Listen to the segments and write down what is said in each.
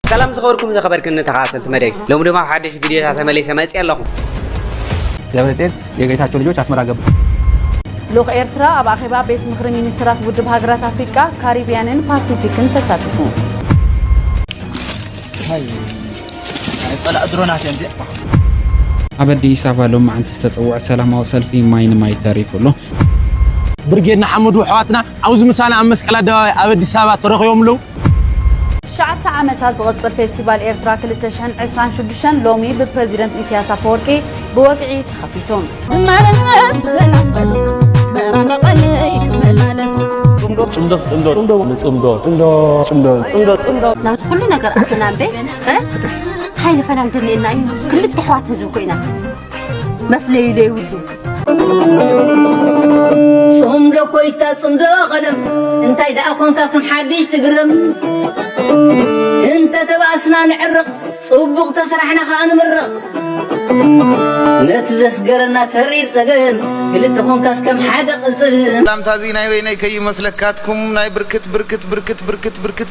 ሰላም ዝኸበርኩም ዘኸበርክን ተኸታተልቲ መደይ ሎሚ ድማ ሓደሽ ቪድዮታት ተመሊሰ መፅየ ኣለኹ ደብረፅዮን የጌታቸው ልጆች አስመራ ገቡ ልኡኽ ኤርትራ ኣብ ኣኼባ ቤት ምኽሪ ሚኒስትራት ውድብ ሃገራት ኣፍሪቃ ካሪብያንን ፓሲፊክን ተሳቲፉ ኣብ ኣዲስ ኣበባ ሎም መዓንቲ ዝተፀውዐ ሰላማዊ ሰልፊ ማይ ንማይ ተሪፉ ኣሎ ብርጌድ ንሓመዱ ኣሕዋትና ኣብዚ ምሳና ኣብ መስቀል ኣደባባይ ኣብ ኣዲስ ኣበባ ተረኺቦም ኣለዉ ትሽዓተ ዓመታ ዝቕጽል ፌስቲቫል ኤርትራ ክልተ ሽሕን ዕስራን ሽዱሽተን ሎሚ ብፕረዚደንት ኢሳያስ ኣፈወርቂ ብወግዒ ተኸፊቱ። ጽምዶ ጽምዶ ጽምዶ ንጽምዶ ጽምዶ ጽምዶ ጽምዶ ጽምዶ ናብዚ ኩሉ ነገር ኣተና እምበይ እንታይ ንፈላም ደልየና እዩ ክልተ ኣሕዋት ህዝቢ ኮይና መፍለዩ ዘይብሉ ጽምዶ ኮይታ ጽምዶ ቐደም እንታይ ደኣ ኮንካ ከም ሓድሽ ትግርም እንተ ተባእስና ንዕርቕ ጽቡቕ ተስራሕና ኸኣ ንምርቕ ነቲ ዘስገረና ተሪር ጸገም ክልተ ኮንካስ ከም ሓደ ቕልጽም ላምታዚ ናይ በይነይ ከይመስለካትኩም ናይ ብርክት ብርክት ብርክት ብርክት ብርክት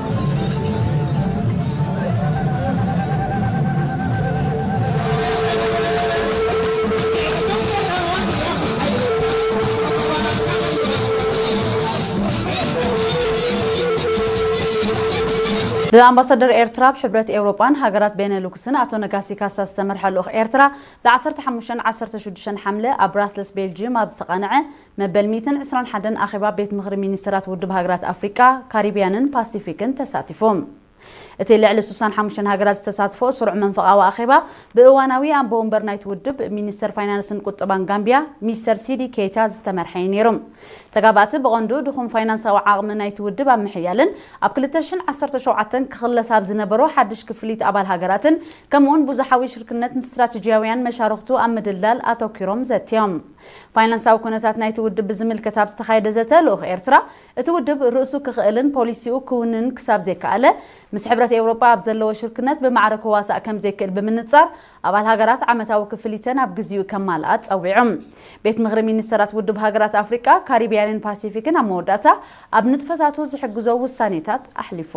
ብኣምባሳደር ኤርትራ ኣብ ሕብረት ኤውሮጳን ሃገራት ቤነሉክስን ኣቶ ነጋሲ ካሳ ዝተመርሐ ልኡኽ ኤርትራ ብ15ን 16 ሓምለ ኣብ ብራስለስ ቤልጂዩም ኣብ ዝተቓንዐ መበል ሚእትን ዕስራን ሓደን ኣኼባ ቤት ምኽሪ ሚኒስተራት ውድብ ሃገራት ኣፍሪቃ፣ ካሪብያንን ፓሲፊክን ተሳቲፉ። እቲ ልዕሊ ስሳን ሓሙሽተን ሃገራት ዝተሳትፎኦ ስሩዕ መንፈቓዊ ኣኼባ፣ ብእዋናዊ ኣቦ ወንበር ናይቲ ውድብ፣ ሚኒስተር ፋይናንስን ቁጠባን ጋምቢያ፣ ሚስተር ሲዲ ኬይታ ዝተመርሐ እዩ ነይሩ። ተጋባእቲ ብቐንዱ ድኹም ፋይናንሳዊ ዓቕሚ ናይቲ ውድብ ኣብ ምሕያልን ኣብ ክልተ ሽሕን ዓሰርተ ሸውዓተን ክኽለስ ኣብ ዝነበሮ ሓድሽ ክፍሊት ኣባል ሃገራትን ከምኡ'ውን ብዙሓዊ ሽርክነት ንስትራተጂያውያን መሻርኽቱ ኣብ ምድልዳል ኣተኲሮም ዘትዮም። ፋይናንሳዊ ኩነታት ናይቲ ውድብ ብዝምልከት ኣብ ዝተኻየደ ዘተ፣ ልኡኽ ኤርትራ፣ እቲ ውድብ ርእሱ ክኽእልን ፖሊሲኡ ክውንንን ክሳብ ዘይከኣለ፣ ምስ ሕብረት ኤውሮጳ ኣብ ዘለዎ ሽርክነት ብማዕረ ክዋሳእ ከም ዘይክእል ብምንጻር፣ ኣባል ሃገራት ዓመታዊ ክፍሊተን ኣብ ግዜኡ ከማልኣ ጸዊዑ። ቤት ምኽሪ ሚኒስተራት ውድብ ሃገራት ኣፍሪቃ፣ ካሪብያንን ፓሲፊክን ኣብ መወዳእታ ኣብ ንጥፈታቱ ዝሕግዞ ውሳኔታት ኣሕሊፉ።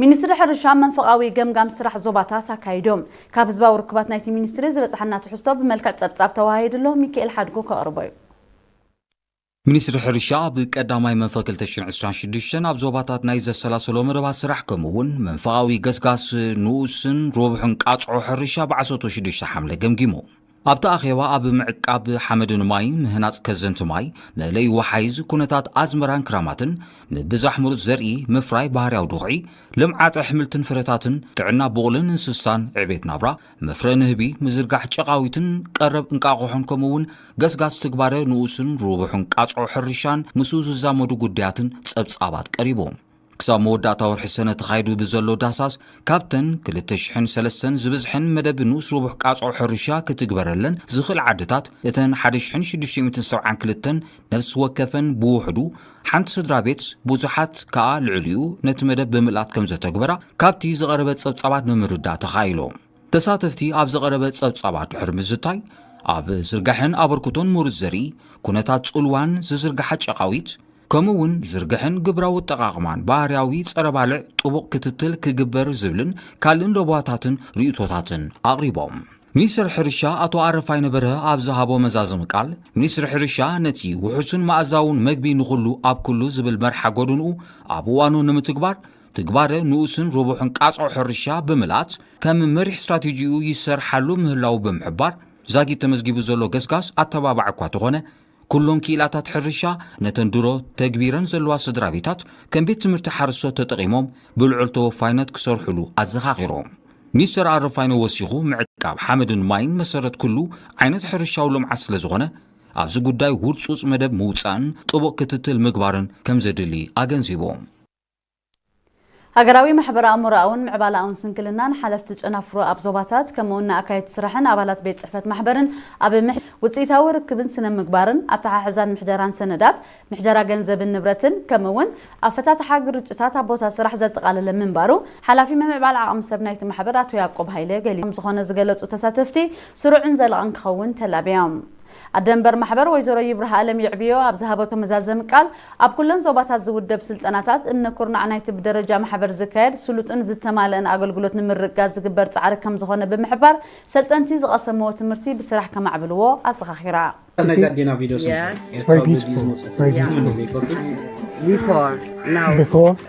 ሚኒስትሪ ሕርሻ መንፈቓዊ ገምጋም ስራሕ ዞባታት ኣካይዱ። ካብ ህዝባዊ ርክባት ናይቲ ሚኒስትሪ ዝበጽሓና ትሕዝቶ ብመልክዕ ጸብጻብ ተወሃሂዱ ኣሎ፣ ሚኪኤል ሓድጉ ከቕርቦ እዩ። ሚኒስትሪ ሕርሻ ኣብ ቀዳማይ መንፈቕ ክልተ ሽሕን ዕስራን ሽዱሽተን ኣብ ዞባታት ናይ ዘሰላሰሎ መደባት ስራሕ ከምኡ'ውን መንፈቓዊ ገስጋስ ንኡስን ሮብሕን ቃጽዖ ሕርሻ ብዓሰርተ ሽዱሽተ ሓምለ ገምጊሙ። ኣብቲ ኣኼባ ኣብ ምዕቃብ ሓመድን ማይን፣ ምህናጽ ከዘንቲ ማይ፣ መእለዪ ወሓይዝ፣ ኩነታት ኣዝመራን ክራማትን፣ ምብዛሕ ምሩጽ ዘርኢ፣ ምፍራይ ባህርያዊ ድኹዒ፣ ልምዓት ኣሕምልትን ፍረታትን፣ ጥዕና ብቑልን እንስሳን፣ ዕቤት ናብራ፣ መፍረ ንህቢ፣ ምዝርጋሕ ጨቓዊትን ቀረብ እንቃቑሖን ከምኡ'ውን ገስጋስ ትግባረ ንኡስን ርቡሕን ቃጽዖ ሕርሻን ምስኡ ዝዛመዱ ጉዳያትን ጸብጻባት ቀሪቦም። ክሳብ መወዳእታ ወርሒ ሰነ ተኻይዱ ብዘሎ ዳሳስ ካብተን 2,003 ዝበዝሐን መደብ ንኡስ ርቡሕ ቃጽዖ ሕርሻ ክትግበረለን ዝኽእል ዓድታት እተን 1,672 ነፍሲ ወከፈን ብውሕዱ ሓንቲ ስድራ ቤት ብዙሓት ከኣ ልዕሊኡ ነቲ መደብ ብምልኣት ከም ዘተግበራ ካብቲ ዝቐረበ ጸብጻባት ንምርዳእ ተኻኢሎ። ተሳተፍቲ ኣብ ዝቐረበ ጸብጻባት ድሕሪ ምዝታይ ኣብ ዝርጋሐን ኣበርክቶን ምሩጽ ዘርኢ፣ ኩነታት ጽልዋን ዝዝርግሓ ጨቓዊት፣ ከምኡ እውን ዝርግሐን ግብራዊ ኣጠቓቕማን ባህርያዊ ጸረ-ባልዕ ጥቡቕ ክትትል ክግበር ዝብልን ካልእን ለበዋታትን ርእይቶታትን ኣቕሪቦም። ሚኒስትር ሕርሻ ኣቶ ኣረፋይነ በርሀ ኣብ ዝሃቦ መዛዘሚ ቃል፣ ሚኒስትሪ ሕርሻ ነቲ ውሑስን መኣዛውን መግቢ ንኹሉ ኣብ ኩሉ ዝብል መርሓ ጎድንኡ ኣብ እዋኑ ንምትግባር ትግባረ ንኡስን ርቡሕን ቃጽዖ ሕርሻ ብምልኣት ከም መሪሕ ስትራቴጂኡ ይሰርሓሉ ምህላዉ ብምሕባር ዛጊት ተመዝጊቡ ዘሎ ገስጋስ ኣተባባዒ እኳ ተኾነ ኩሎም ክኢላታት ሕርሻ ነተን ድሮ ተግቢረን ዘለዋ ስድራቤታት ከም ቤት ትምህርቲ ሓርሶት ተጠቒሞም ብልዑል ተወፋይነት ክሰርሑሉ ኣዘኻኺሮም። ሚስተር ኣረፋይነ ወሲኹ ምዕቃብ ሓመድን ማይን መሰረት ኩሉ ዓይነት ሕርሻዊ ልምዓት ስለዝኾነ ኣብዚ ጉዳይ ውርጹጽ መደብ ምውጻእን ጥቡቕ ክትትል ምግባርን ከምዘድሊ ኣገንዚቦም። ሃገራዊ ማሕበረ-ኣእምሮኣውን ምዕባለኣውን ስንክልና ንሓለፍቲ ጨናፍሩ ኣብ ዞባታት፣ ከምኡ'ውን ንኣካየድቲ ስራሕን ኣባላት ቤት ጽሕፈት ማሕበርን ኣብ ምሕ። ውጽኢታዊ ርክብን ስነ-ምግባርን፣ ኣተሓሕዛን ምሕደራን ሰነዳት፣ ምሕደራ ገንዘብን ንብረትን፣ ከምኡ'ውን ኣፈታትሓ ግርጭታት ኣብ ቦታ ስራሕ ዘጠቓለለ ምንባሩ ሓላፊ ምምዕባል ዓቕሚ ሰብ ናይቲ ማሕበር ኣቶ ያቆብ ሃይለ ገሊጹ። ከምዝኾነ ዝገለጹ ተሳተፍቲ፣ ስሩዕን ዘላቕን ክኸውን ተላብዮም። ኣደ መንበር ማሕበር ወይዘሮ ይብራሃኣለም የዕብዮ ኣብ ዝሃበቶ መዛዘሚ ቃል፣ ኣብ ኩለን ዞባታት ዝውደብ ስልጠናታት፣ እምነ ኩርናዕ ናይቲ ብደረጃ ማሕበር ዝካየድ ስሉጥን ዝተማለእን ኣገልግሎት ንምርግጋፅ ዝግበር ፃዕሪ ከምዝኾነ ብምሕባር፣ ሰልጠንቲ ዝቐሰምዎ ትምህርቲ ብስራሕ ከማዕብልዎ ኣዘኻኺራ። እቲ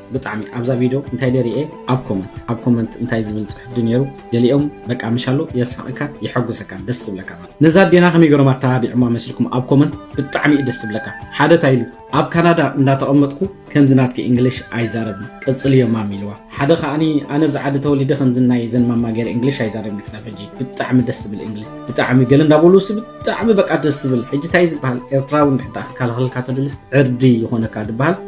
ብጣዕሚ ኣብዛ ቪዶ እንታይ ደሪኤ ኣብ ኮመንት ኣብ ኮመንት እንታይ ዝብል ጽሑፍ ድ ነይሩ ገሊኦም በቃ ምሻሉ የስሕቀካ የሐጉሰካ ደስ ዝብለካ ማለት ነዛ ኣዴና ከመይ ገሮም ኣተባቢዕማ መስልኩም ኣብ ኮመንት ብጣዕሚ እዩ ደስ ዝብለካ ሓደ እንታይ ኢሉ ኣብ ካናዳ እንዳተቐመጥኩ ከምዚ ናትኪ እንግሊሽ ኣይዛረብን ቀጽልዮ ማም ኢልዋ ሓደ ከዓኒ ኣነ ብዚ ዓዲ ተወሊደ ከምዚ ናይ ዘን ማማ ገይረ እንግሊሽ ኣይዛረብን ክሳብ ሕጂ ብጣዕሚ ደስ ዝብል እንግሊሽ ብጣዕሚ ገለ እንዳበሉ ሲ ብጣዕሚ በቃ ደስ ዝብል ሕጂ እንታይ ዝበሃል ኤርትራዊ እንድሕር ክከላኸለልካ ተድልስ ዕርዲ ይኾነካ ዝበሃል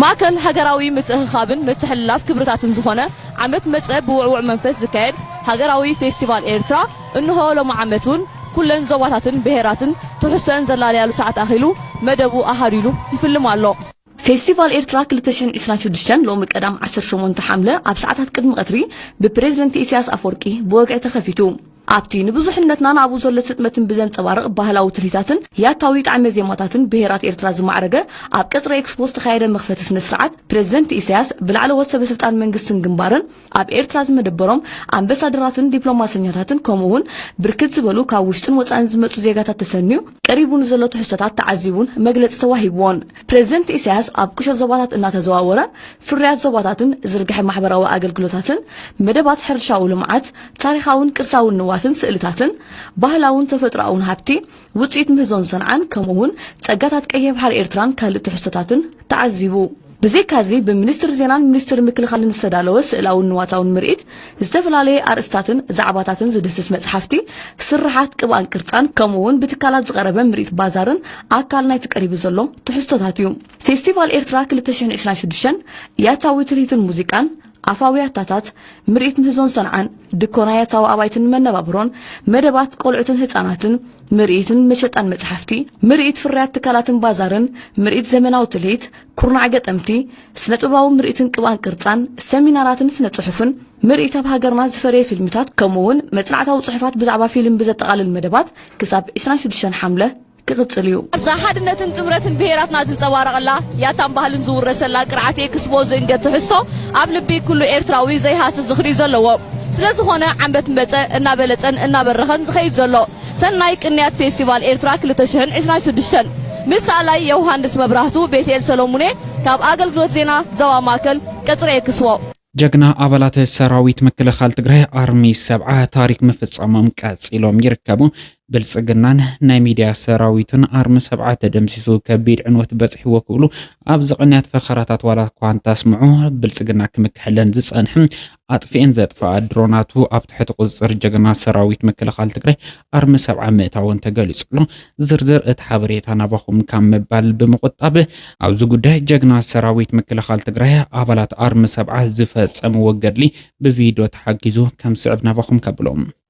ማእከል ሃገራዊ ምትእኽኻብን ምትሕልላፍ ክብርታትን ዝኾነ ዓመት መጸ ብውዕዉዕ መንፈስ ዝካየድ ሃገራዊ ፌስቲቫል ኤርትራ እንሆ ሎሚ ዓመት ውን ኩለን ዞባታትን ብሄራትን ትሕዝቶኣን ዘላልያሉ ሰዓት ኣኺሉ መደቡ ኣሃዱ ኢሉ ይፍልም ኣሎ። ፌስቲቫል ኤርትራ ክልተ ሽሕን ዕስራን ሽዱሽተን ሎሚ ቀዳም ዓሰርተ ሸሞንተ ሓምለ ኣብ ሰዓታት ቅድሚ ቀትሪ ብፕረዚደንት ኢሳያስ ኣፍወርቂ ብወግዒ ተኸፊቱ። ኣብቲ ንብዙሕነትናን ኣብኡ ዘሎ ስጥመትን ብዘንጸባርቕ ባህላዊ ትልሂታትን ያታዊ ጣዕመ ዜማታትን ብሄራት ኤርትራ ዝማዕረገ ኣብ ቀጽሪ ኤክስፖ ዝተኻየደ መኽፈቲ ስነ ስርዓት ፕረዚደንት ኢሳያስ ብላዕለዎት ሰበ ስልጣን መንግስትን ግንባርን ኣብ ኤርትራ ዝመደበሮም ኣምበሳደራትን ዲፕሎማሰኛታትን ከምኡ'ውን ብርክት ዝበሉ ካብ ውሽጥን ወጻእን ዝመጹ ዜጋታት ተሰንዩ ቀሪቡ ንዘሎ ትሕዝቶታት ተዓዚቡን መግለጺ ተዋሂብዎን። ፕረዚደንት ኢሳያስ ኣብ ቁሸት ዞባታት እናተዘዋወረ ፍርያት ዞባታትን ዝርግሐ ማሕበራዊ ኣገልግሎታትን መደባት ሕርሻዊ ልምዓት ታሪኻውን ቅርሳውን ንዋትን ስእልታትን ባህላውን ተፈጥሮኣውን ሃብቲ ውፅኢት ምህዞን ሰንዓን ከምኡውን ፀጋታት ቀይሕ ባሕሪ ኤርትራን ካልእ ትሕዝቶታትን ተዓዚቡ። ብዘይካዚ ብሚኒስትር ዜናን ሚኒስትር ምክልኻልን ዝተዳለወ ስእላውን ንዋታውን ምርኢት ዝተፈላለየ ኣርእስታትን ዛዕባታትን ዝድህስስ መጽሓፍቲ፣ ስርሓት ቅብኣን ቅርጻን፣ ከምኡ'ውን ብትካላት ዝቐረበ ምርኢት ባዛርን ኣካል ናይቲ ቀሪቡ ዘሎ ትሕዝቶታት እዩ። ፌስቲቫል ኤርትራ ክልተ ሽሕን ዕስራን ሽዱሽተን ያታዊ ትልሂትን ሙዚቃን፣ ኣፋዊ ያታታት፣ ምርኢት ምህዞን ሰንዓን፣ ድኮና ያታዊ ኣባይትን መነባብሮን፣ መደባት ቆልዑትን ህጻናትን፣ ምርኢትን መሸጣን መጽሓፍቲ፣ ምርኢት ፍርያት ትካላትን ባዛርን፣ ምርኢት ዘመናዊ ትልሂት፣ ኩርናዕ ገጠምቲ፣ ስነጥበባዊ ምርኢትን ቅብኣን ቅርጻን፣ ሰሚናራትን ስነጽሑፍን፣ ምርኢት ኣብ ሃገርና ዝፈረየ ፊልምታት ከምኡ'ውን መጽናዕታዊ ጽሑፋት ብዛዕባ ፊልም ብዘጠቓልል መደባት ክሳብ ዕስራን ሽዱሽተን ሓምለ ክቕጽል እዩ። ኣብዛ ሓድነትን ጥምረትን ብሄራትና ዝንጸባረቐላ ያታን ባህልን ዝውረሰላ ቅርዓት ኤክስፖ ዝእንግድ ትሕዝቶ ኣብ ልቢ ኩሉ ኤርትራዊ ዘይሃስስ ዝኽሪ'ዩ ዘለዎ። ስለዝኾነ ዓንበት መጸ እናበለጸን እናበረኸን ዝኸይድ ዘሎ ሰናይ ቅንያት ፌስቲቫል ኤርትራ ክልተ ሽሕን ዕስራን ሽዱሽተን ምስ ሰኣላይ የውሃንስ መብራህቱ፣ ቤትኤል ሰሎሙኔ ካብ ኣገልግሎት ዜና ዞባ ማእከል፣ ቀጽሪ ኤክስዎ። ጀግና ኣባላት ሰራዊት ምክልኻል ትግራይ ኣርሚ ሰብዓ ታሪክ ምፍፃሞም ቀፂሎም ይርከቡ። ብልፅግናን ናይ ሚዲያ ሰራዊቱን ኣርሚ ሰብዓ ተደምሲሱ ከቢድ ዕንወት በፅሕዎ ክብሉ ኣብዚ ቅንያት ፈኸራታት ዋላ እኳ እንተስምዑ ብልፅግና ክምክሐለን ዝፀንሕም ኣጥፊኤን ዘጥፈኣ ድሮናቱ ኣብ ትሕቲ ቁፅፅር ጀግና ሰራዊት ምክልኻል ትግራይ ኣርሚ ሰብዓ ምእታወን ተገሊፁ'ሎ። ዝርዝር እቲ ሓበሬታ ናባኹም ካብ ምባል ብምቑጣብ ኣብዚ ጉዳይ ጀግና ሰራዊት ምክልኻል ትግራይ ኣባላት ኣርሚ ሰብዓ ዝፈፀምዎ ገድሊ ብቪድዮ ተሓጊዙ ከምስዕብ ናባኹም ከብሎ።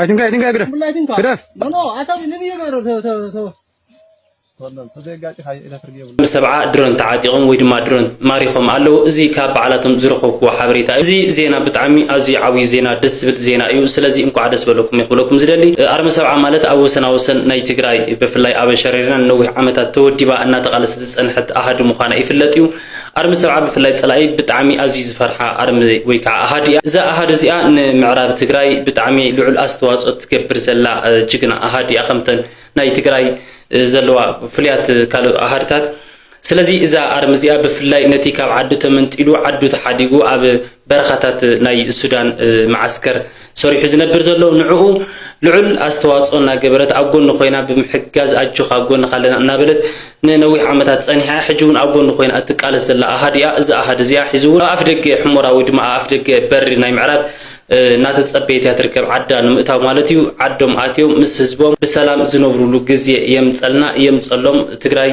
አይትንካ አይትንካ ግደፍ ግደፍ ሰብዓ ድሮን ተዓጢቖም ወይ ድማ ድሮን ማሪኾም ኣለዉ እዚ ካብ በዓላቶም ዝረኸብክዎ ሓበሬታ እዩ እዚ ዜና ብጣዕሚ ኣዝዩ ዓብዩ ዜና ደስ ዝብል ዜና እዩ ስለዚ እንኳዕ ደስ በለኩም ክብለኩም ዝደሊ ኣርሚ ሰብዓ ማለት ኣብ ወሰና ወሰን ናይ ትግራይ ብፍላይ ኣብ ሸረሪና ንነዊሕ ዓመታት ተወዲባ እናተቓለሰት ዝፀንሐት ኣሃዱ ምዃና ይፍለጥ እዩ ኣርሚ ሰብዓ ብፍላይ ጸላኢ ብጣዕሚ ኣዝዩ ዝፈርሓ ኣርሚ ወይ ከዓ ኣሃዱ እያ። እዛ ኣሃዱ እዚኣ ንምዕራብ ትግራይ ብጣዕሚ ልዑል ኣስተዋፅኦ ትገብር ዘላ ጅግና ኣሃዱ እያ ከምተን ናይ ትግራይ ዘለዋ ፍሉያት ካልእ ኣሃድታት። ስለዚ እዛ ኣርሚ እዚኣ ብፍላይ ነቲ ካብ ዓዱ ተመንጢሉ ዓዱ ተሓዲጉ ኣብ በረኻታት ናይ ሱዳን መዓስከር ሰሪሑ ዝነብር ዘሎ ንዕኡ ልዑል ኣስተዋጽኦ እናገበረት ኣብ ጎኑ ኮይና ብምሕጋዝ ኣጆኻ ኣብ ጎንኻ ኣለና እናበለት ንነዊሕ ዓመታት ጸኒሓ እያ ሕጂ እውን ኣብ ጎኑ ኮይና እትቃለስ ዘላ ኣሃድ እያ እዚ ኣሃድ እዚኣ ሒዙ እውን ኣብ ኣፍደገ ሕሞራ ወይ ድማ ኣብ ኣፍደገ በሪ ናይ ምዕራብ እናተጸበየት እያ ትርከብ ዓዳ ንምእታው ማለት እዩ ዓዶም ኣትዮም ምስ ህዝቦም ብሰላም ዝነብሩሉ ግዜ የምጸልና የምጸሎም ትግራይ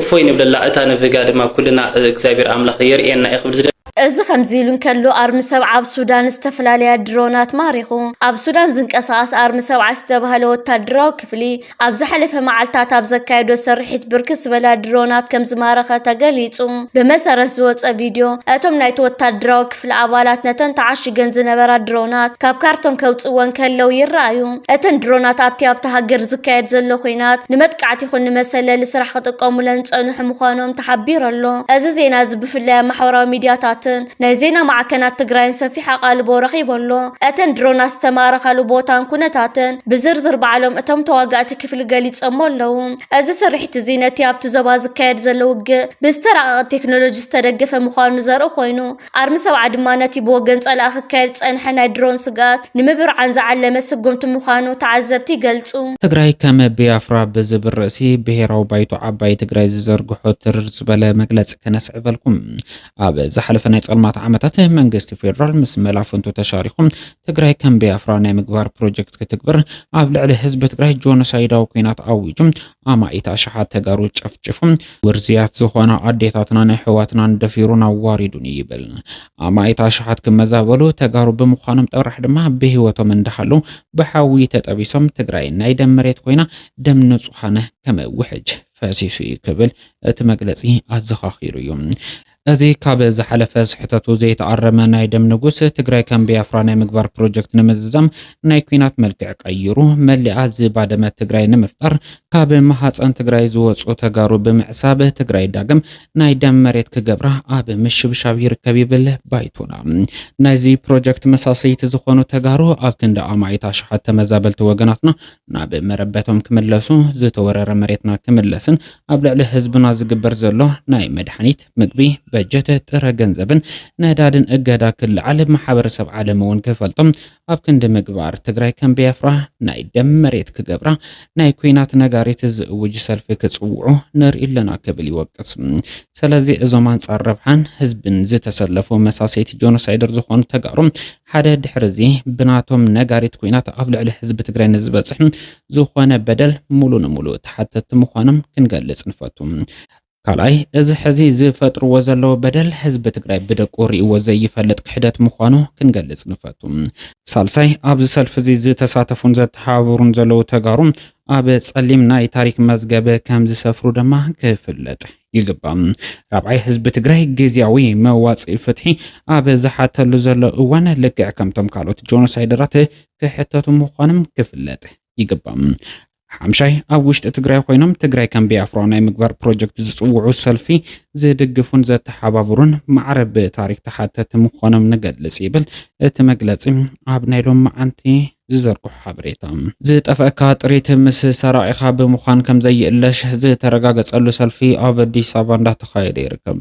እፎይ ንብለላ እታ ንብህጋ ድማ ኩልና እግዚኣብሔር ኣምላኽ የርእየና እየ ክብል ዝደሊ። እዚ ከምዚ ኢሉ እንከሎ ኣርሚ ሰብ ዓብ ሱዳን ዝተፈላለያ ድሮናት ማሪኹ። ኣብ ሱዳን ዝንቀሳቐስ ኣርሚ ሰብ ዓስ ዝተባህለ ወታደራዊ ክፍሊ ኣብ ዝሓለፈ መዓልታት ኣብ ዘካየዶ ስርሒት ብርክት ዝበላ ድሮናት ከምዝማረኸ ተገሊፁ። ብመሰረት ዝወፀ ቪድዮ እቶም ናይቲ ወታደራዊ ክፍሊ ኣባላት ነተን ተዓሽገን ዝነበራ ድሮናት ካብ ካርቶን ከውጽወን ከለው ይረኣዩ። እተን ድሮናት ኣብቲ ኣብታ ሃገር ዝካየድ ዘሎ ኹናት ንመጥቃዕቲ ይኹን ንመሰለሊ ስራሕ ክጥቀሙለን ዝጸንሑ ምዃኖም ተሓቢሩ ኣሎ። እዚ ዜና እዚ ብፍላይ ኣብ ማሕበራዊ ሚድያታትን ናይ ዜና ማዕከናት ትግራይን ሰፊሕ ኣቓልቦ ረኺቡ ኣሎ። እተን ድሮናት ዝተማረኻሉ ቦታን ኩነታትን ብዝርዝር ባዕሎም እቶም ተዋጋእቲ ክፍሊ ገሊጾሞ ኣለው። እዚ ስርሒት እዚ ነቲ ኣብቲ ዞባ ዝካየድ ዘሎ ውግእ ብዝተራቐቐ ቴክኖሎጂ ዝተደገፈ ምዃኑ ዘርኢ ኮይኑ፣ ኣርሚ ሰብዓ ድማ ነቲ ብወገን ጸላኢ ክካየድ ዝጸንሐ ናይ ድሮን ስግኣት ንምብርዓን ዝዓለመ ስጉምቲ ምዃኑ ተዓዘብቲ ይገልጹ። ትግራይ ከም ብያፍራ ብዝብል ርእሲ ብሄራዊ ባይቶ ዓባይ ትግራይ ዝዘርግሖ ትርር ዝበለ መግለፂ ከነስዕበልኩም። ኣብ ዝሓለፈ ናይ ፀልማት ዓመታት መንግስቲ ፌዴራል ምስ መላፍንቱ ተሻሪኹ ትግራይ ከም ቢያፍራ ናይ ምግባር ፕሮጀክት ክትግብር ኣብ ልዕሊ ህዝቢ ትግራይ ጆኖሳይዳዊ ኩናት ኣዊጁ ኣማኢት ኣሽሓት ተጋሩ ጨፍጭፉ ውርዝያት ዝኾና ኣዴታትናን ኣሕዋትናን ደፊሩን ኣዋሪዱን እዩ ይብል። ኣማኢት ኣሽሓት ክመዛበሉ ተጋሩ ብምዃኖም ጥራሕ ድማ ብህይወቶም እንዳሃሉ ብሓዊ ተጠቢሶም ትግራይ ናይ ደም መሬት ኮይና ደም ንጹሃነ ከም ውሕጅ ፈሲሱ እዩ ክብል እቲ መግለጺ ኣዘኻኺሩ እዩ። እዚ ካብ ዝሓለፈ ስሕተቱ ዘይተኣረመ ናይ ደም ንጉስ ትግራይ ከም ብያፍራ ናይ ምግባር ፕሮጀክት ንምዝዛም ናይ ኩናት መልክዕ ቀይሩ መሊኣ ዝባደመት ትግራይ ንምፍጣር ካብ ማሃፀን ትግራይ ዝወፁ ተጋሩ ብምዕሳብ ትግራይ ዳግም ናይ ደም መሬት ክገብራ ኣብ ምሽብሻብ ይርከብ ይብል ባይቶና። ናይዚ ፕሮጀክት መሳሰይቲ ዝኾኑ ተጋሩ ኣብ ክንዲ ኣማኢት ኣሽሓት ተመዛበልቲ ወገናትና ናብ መረበቶም ክምለሱ፣ ዝተወረረ መሬትና ክምለስን ኣብ ልዕሊ ህዝብና ዝግበር ዘሎ ናይ መድሓኒት፣ ምግቢ፣ በጀት፣ ጥረ ገንዘብን ነዳድን እገዳ ክለዓል ማሕበረሰብ ዓለም እውን ክፈልጦ ኣብ ክንዲ ምግባር ትግራይ ከም ቢያፍራ ናይ ደም መሬት ክገብራ ናይ ኩናት ነጋሪት ዝእውጅ ሰልፊ ክፅውዑ ንርኢ ኣለና ክብል ይወቅስ። ሰለዚ እዞም ኣንፃር ረብሓን ህዝብን ዝተሰለፉ መሳሰይቲ ጆኖሳይደር ዝኾኑ ተጋሩ ሓደ ድሕሪ እዚ ብናቶም ነጋሪት ኩናት ኣብ ልዕሊ ህዝቢ ትግራይ ንዝበፅሕ ዝኾነ በደል ሙሉ ንሙሉ ተሓተቲ ምዃኖም ክንገልፅ ንፈቱ። ካልኣይ እዚ ሕዚ ዝፈጥርዎ ዘለዉ በደል ህዝቢ ትግራይ ብደቁ ሪእዎ ዘይፈልጥ ክሕደት ምዃኑ ክንገልፅ ንፈቱ። ሳልሳይ ኣብዚ ሰልፊ እዚ ዝተሳተፉን ዘተሓባበሩን ዘለዉ ተጋሩ ኣብ ፀሊም ናይ ታሪክ መዝገብ ከምዝሰፍሩ ድማ ክፍለጥ ይግባእ። ራብዓይ፣ ህዝቢ ትግራይ ግዝያዊ መዋፅኢ ፍትሒ ኣብ ዝሓተሉ ዘሎ እዋን ልክዕ ከምቶም ካልኦት ጆኖሳይደራት ክሕተቱ ምዃኖም ክፍለጥ ይግባእ። ሓምሻይ፣ ኣብ ውሽጢ ትግራይ ኮይኖም ትግራይ ከም ቢያፍራ ናይ ምግባር ፕሮጀክት ዝፅውዑ ሰልፊ ዝድግፉን ዘተሓባብሩን ማዕረ ብታሪክ ተሓተቲ ምዃኖም ንገልፅ ይብል እቲ መግለፂ ኣብ ናይ ሎም መዓንቲ ዝዘርግሖ ሓበሬታ ዝጠፈእካ ጥሪት ምስ ሰራቂኻ ብምዃን ከምዘይእለሽ ዝተረጋገፀሉ ሰልፊ ኣብ ኣዲስ ኣበባ እንዳተኻየደ ይርከብ።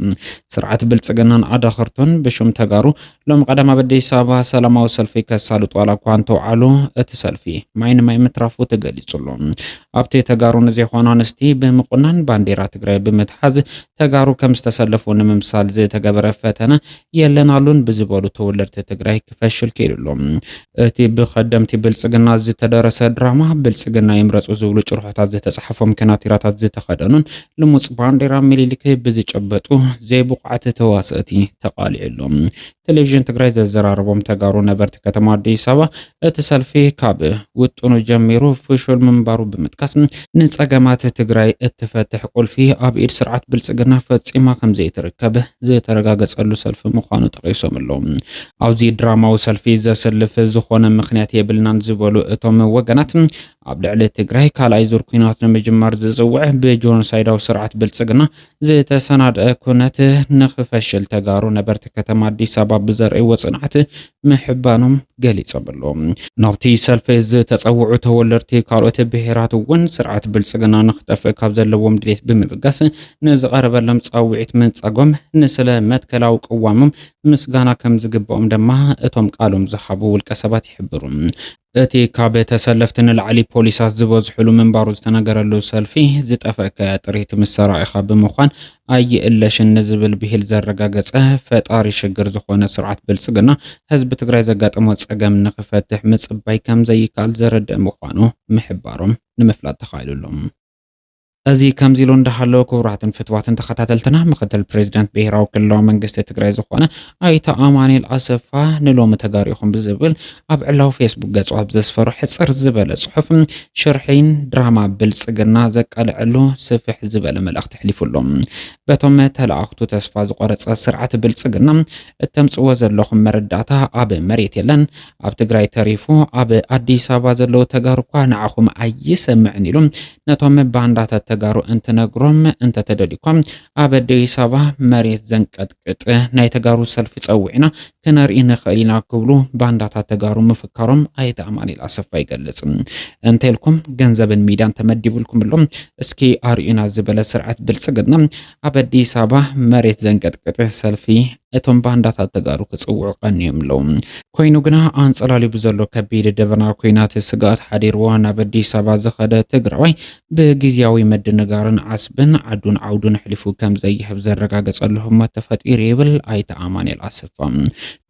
ስርዓት ብልፅግናን ኣዳኸርቱን ብሹም ተጋሩ ሎም ቀዳም ኣብ ኣዲስ ኣበባ ሰላማዊ ሰልፊ ከሳልጡ ዋላ እኳ እንተውዓሉ እቲ ሰልፊ ማይ ንማይ ምትራፉ ተገሊፁሉ። ኣብቲ ተጋሩ ንዘይኾኑ ኣንስቲ ብምቁናን ባንዴራ ትግራይ ብምትሓዝ ተጋሩ ከም ዝተሰለፉ ንምምሳል ዝተገበረ ፈተነ የለን ኣሉን ብዝበሉ ተወለድቲ ትግራይ ክፈሽል ክኢሉሉ። እቲ ብከደምቲ ብልፅግና ዝተደረሰ ድራማ ብልፅግና ይምረፁ ዝብሉ ጭርሖታት ዝተፅሓፎም ከናቲራታት ዝተኸደኑን ልሙፅ ባንዴራ ሚሊሊክ ብዝጨበጡ ዘይብቑዓት ተዋሰእቲ ተቓሊዑ ኣሎ። ቴሌቪዥን ትግራይ ዘዘራረቦም ተጋሩ ነበርቲ ከተማ ኣዲስ ኣበባ እቲ ሰልፊ ካብ ውጥኑ ጀሚሩ ፍሹል ምንባሩ ብምጥቃስ ንፀገማት ትግራይ እትፈትሕ ቁልፊ ኣብ ኢድ ስርዓት ብልፅግና ፈፂማ ከምዘይትርከብ ዝተረጋገፀሉ ሰልፊ ምዃኑ ጠቒሶም ኣለዉ። ኣብዚ ድራማዊ ሰልፊ ዘስልፍ ዝኾነ ምኽንያት የብልናን ዝበሉ እቶም ወገናት፣ ኣብ ልዕሊ ትግራይ ካልኣይ ዙር ኲናት ንምጅማር ዝጽውዕ ብጆኖሳይዳዊ ስርዓት ብልጽግና ዝተሰናድኣ ኩነት ንኽፈሽል ተጋሩ ነበርቲ ከተማ ኣዲስ ኣበባ ብዘርእይዎ ጽንዓት ምሕባኖም ገሊጾምሉ። ናብቲ ሰልፊ ዝተጸውዑ ተወለድቲ ካልኦት ብሄራት እውን ስርዓት ብልጽግና ንኽጠፍእ ካብ ዘለዎም ድሌት ብምብጋስ ንዝቐረበሎም ጻውዒት ምንጻጎም ንስለ መትከላዊ ቅዋሞም ምስጋና ከም ዝግበኦም ደማ እቶም ቃሎም ዝሃቡ ውልቀ ሰባት ይሕብሩ። እቲ ካብ ተሰለፍቲ ንላዕሊ ፖሊሳት ዝበዝሕሉ ምንባሩ ዝተነገረሉ ሰልፊ፣ ዝጠፈእካያ ጥሪት ምስ ሰራኢኻ ብምዃን ኣይእለሽን ንዝብል ብሂል ዘረጋገጸ፣ ፈጣሪ ሽግር ዝኾነ ስርዓት ብልጽግና፣ ህዝቢ ትግራይ ዘጋጠሞ ጸገም ንኽፈትሕ ምጽባይ ከም ዘይከኣል ዘረድእ ምዃኑ ምሕባሮም ንምፍላጥ ተኻኢሉ'ሎ። እዚ ከምዚ ኢሉ እንዳሃለወ ክቡራትን ፍትዋትን ተኸታተልትና ምክትል ፕሬዚዳንት ብሄራዊ ክልላዊ መንግስቲ ትግራይ ዝኾነ ኣይተ ኣማኑኤል ኣሰፋ ንሎሚ ተጋሩ ኢኹም ብዝብል ኣብ ዕላዊ ፌስቡክ ገጹ ኣብ ዘስፈሮ ሕጽር ዝበለ ጽሑፍ ሽርሒን ድራማ ብልጽግና ዘቃልዐሉ ስፍሕ ዝበለ መልእኽቲ ኣሕሊፉ ኣሎ። በቶም ተለኣኽቱ ተስፋ ዝቆረጸ ስርዓት ብልጽግና እተምጽዎ ዘለኹም መረዳእታ ኣብ መሬት የለን ኣብ ትግራይ ተሪፉ ኣብ ኣዲስ ኣበባ ዘለዉ ተጋሩ እኳ ንዓኹም ኣይሰምዕን ኢሉ ነቶም ባንዳታት ተጋሩ እንትነግሮም እንተተደሊኳ ኣብ ኣዲስ ኣበባ መሬት ዘንቀጥቅጥ ናይ ተጋሩ ሰልፊ ጸዊዕና ክነርኢ ንኽእል ኢና ክብሉ ባንዳታት ተጋሩ ምፍካሮም ኣይተ ኣማኒል ኣሰፋ ይገልጽ። እንተልኩም ገንዘብን ሚድያን ተመዲብልኩምሎም እስኪ ኣርእዩና ዝበለ ስርዓት ብልጽግና ኣብ ኣዲስ ኣበባ መሬት ዘንቀጥቅጥ ሰልፊ ነቶም ባንዳታት ተጋሩ ክጽውዑ ቀንዮም ኣለዉ። ኮይኑ ግና ኣንጸላልዩ ብዘሎ ከቢድ ደበና ኩናት ስግኣት ሓዲርዎ ናብ ኣዲስ ኣበባ ዝኸደ ትግራዋይ ብግዜያዊ ምድንጋርን ዓስብን ዓዱን ዓውዱን ኣሕሊፉ ከም ዘይህብ ዘረጋገጸሉ ህሞት ተፈጢሩ ይብል ኣይተ ኣማንኤል ኣሰፋ።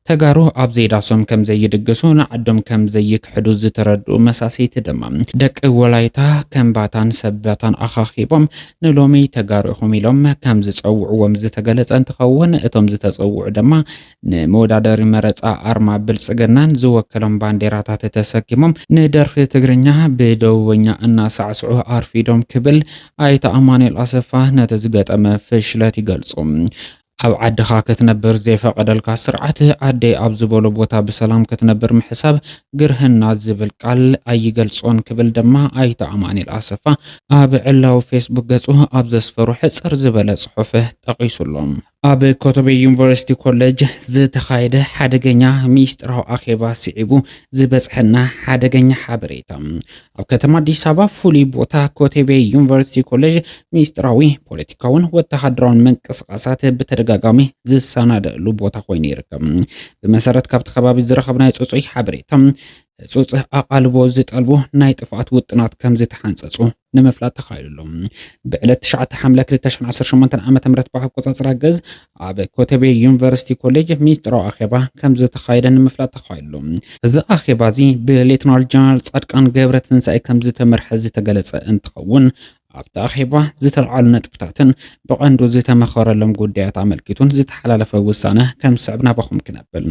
ተጋሩ ኣብ ዘይዳሶም ከም ዘይድግሱ ንዓዶም ከም ዘይክሕዱ ዝተረድኡ መሳሰይቲ ድማ ደቂ ወላይታ ከምባታን ሰበታን ኣኻኺቦም ንሎሚ ተጋሩ ኢኹም ኢሎም ከም ዝፀውዕዎም ዝተገለፀ እንትኸውን እቶም ዝተፀውዑ ድማ ንመወዳደሪ መረፃ ኣርማ ብልፅግናን ዝወከሎም ባንዴራታት ተሰኪሞም ንደርፊ ትግርኛ ብደቡበኛ እናሳዕስዑ ኣርፊዶም ክብል ኣይተ ኣማኑኤል ኣሰፋ ነቲ ዝገጠመ ፍሽለት ይገልፁ። ኣብ ዓድኻ ክትነብር ዘይፈቐደልካ ስርዓት ኣደይ ኣብ ዝበሎ ቦታ ብሰላም ክትነብር ምሕሳብ ግርህና ዝብል ቃል ኣይገልፆን ክብል ድማ ኣይተ ኣማኒኤል ኣሰፋ ኣብ ዕላዊ ፌስቡክ ገፁ ኣብ ዘስፈሮ ሕፅር ዝበለ ፅሑፍ ጠቒሱ ኣሎ። ኣብ ኮተቤ ዩኒቨርሲቲ ኮሌጅ ዝተኻየደ ሓደገኛ ሚስጥራዊ ኣኼባ ስዒቡ ዝበፅሐና ሓደገኛ ሓበሬታ ኣብ ከተማ ኣዲስ ኣበባ ፍሉይ ቦታ ኮተቤ ዩኒቨርሲቲ ኮሌጅ ሚስጥራዊ ፖለቲካውን ወተሃደራውን ምንቅስቓሳት ብተደጋጋሚ ዝሰናደእሉ ቦታ ኮይኑ ይርከብ። ብመሰረት ካብቲ ከባቢ ዝረኸብናዮ ፅፁይ ሓበሬታ ህፁፅ ኣቓልቦ ዝጠልቡ ናይ ጥፍኣት ውጥናት ከም ዝተሓንፀፁ ንምፍላጥ ተኻኢሉ ኣሎ። ብዕለት 9 ሓምለ 2018 ዓ ም ብኣቆፃፅራ ገዝ ኣብ ኮተቤ ዩኒቨርሲቲ ኮሌጅ ሚስጥራዊ ኣኼባ ከም ዝተኻየደ ንምፍላጥ ተኻይሉ። እዚ ኣኼባ እዚ ብሌተናል ጀነራል ጻድቃን ገብረትንሳኤ ከም ዝተመርሐ ዝተገለጸ እንትኸውን፣ ኣብቲ ኣኼባ ዝተልዓሉ ነጥብታትን ብቐንዱ ዝተመኸረሎም ጉዳያት ኣመልኪቱን ዝተሓላለፈ ውሳነ ከም ዝስዕብ ናባኹም ክነብል።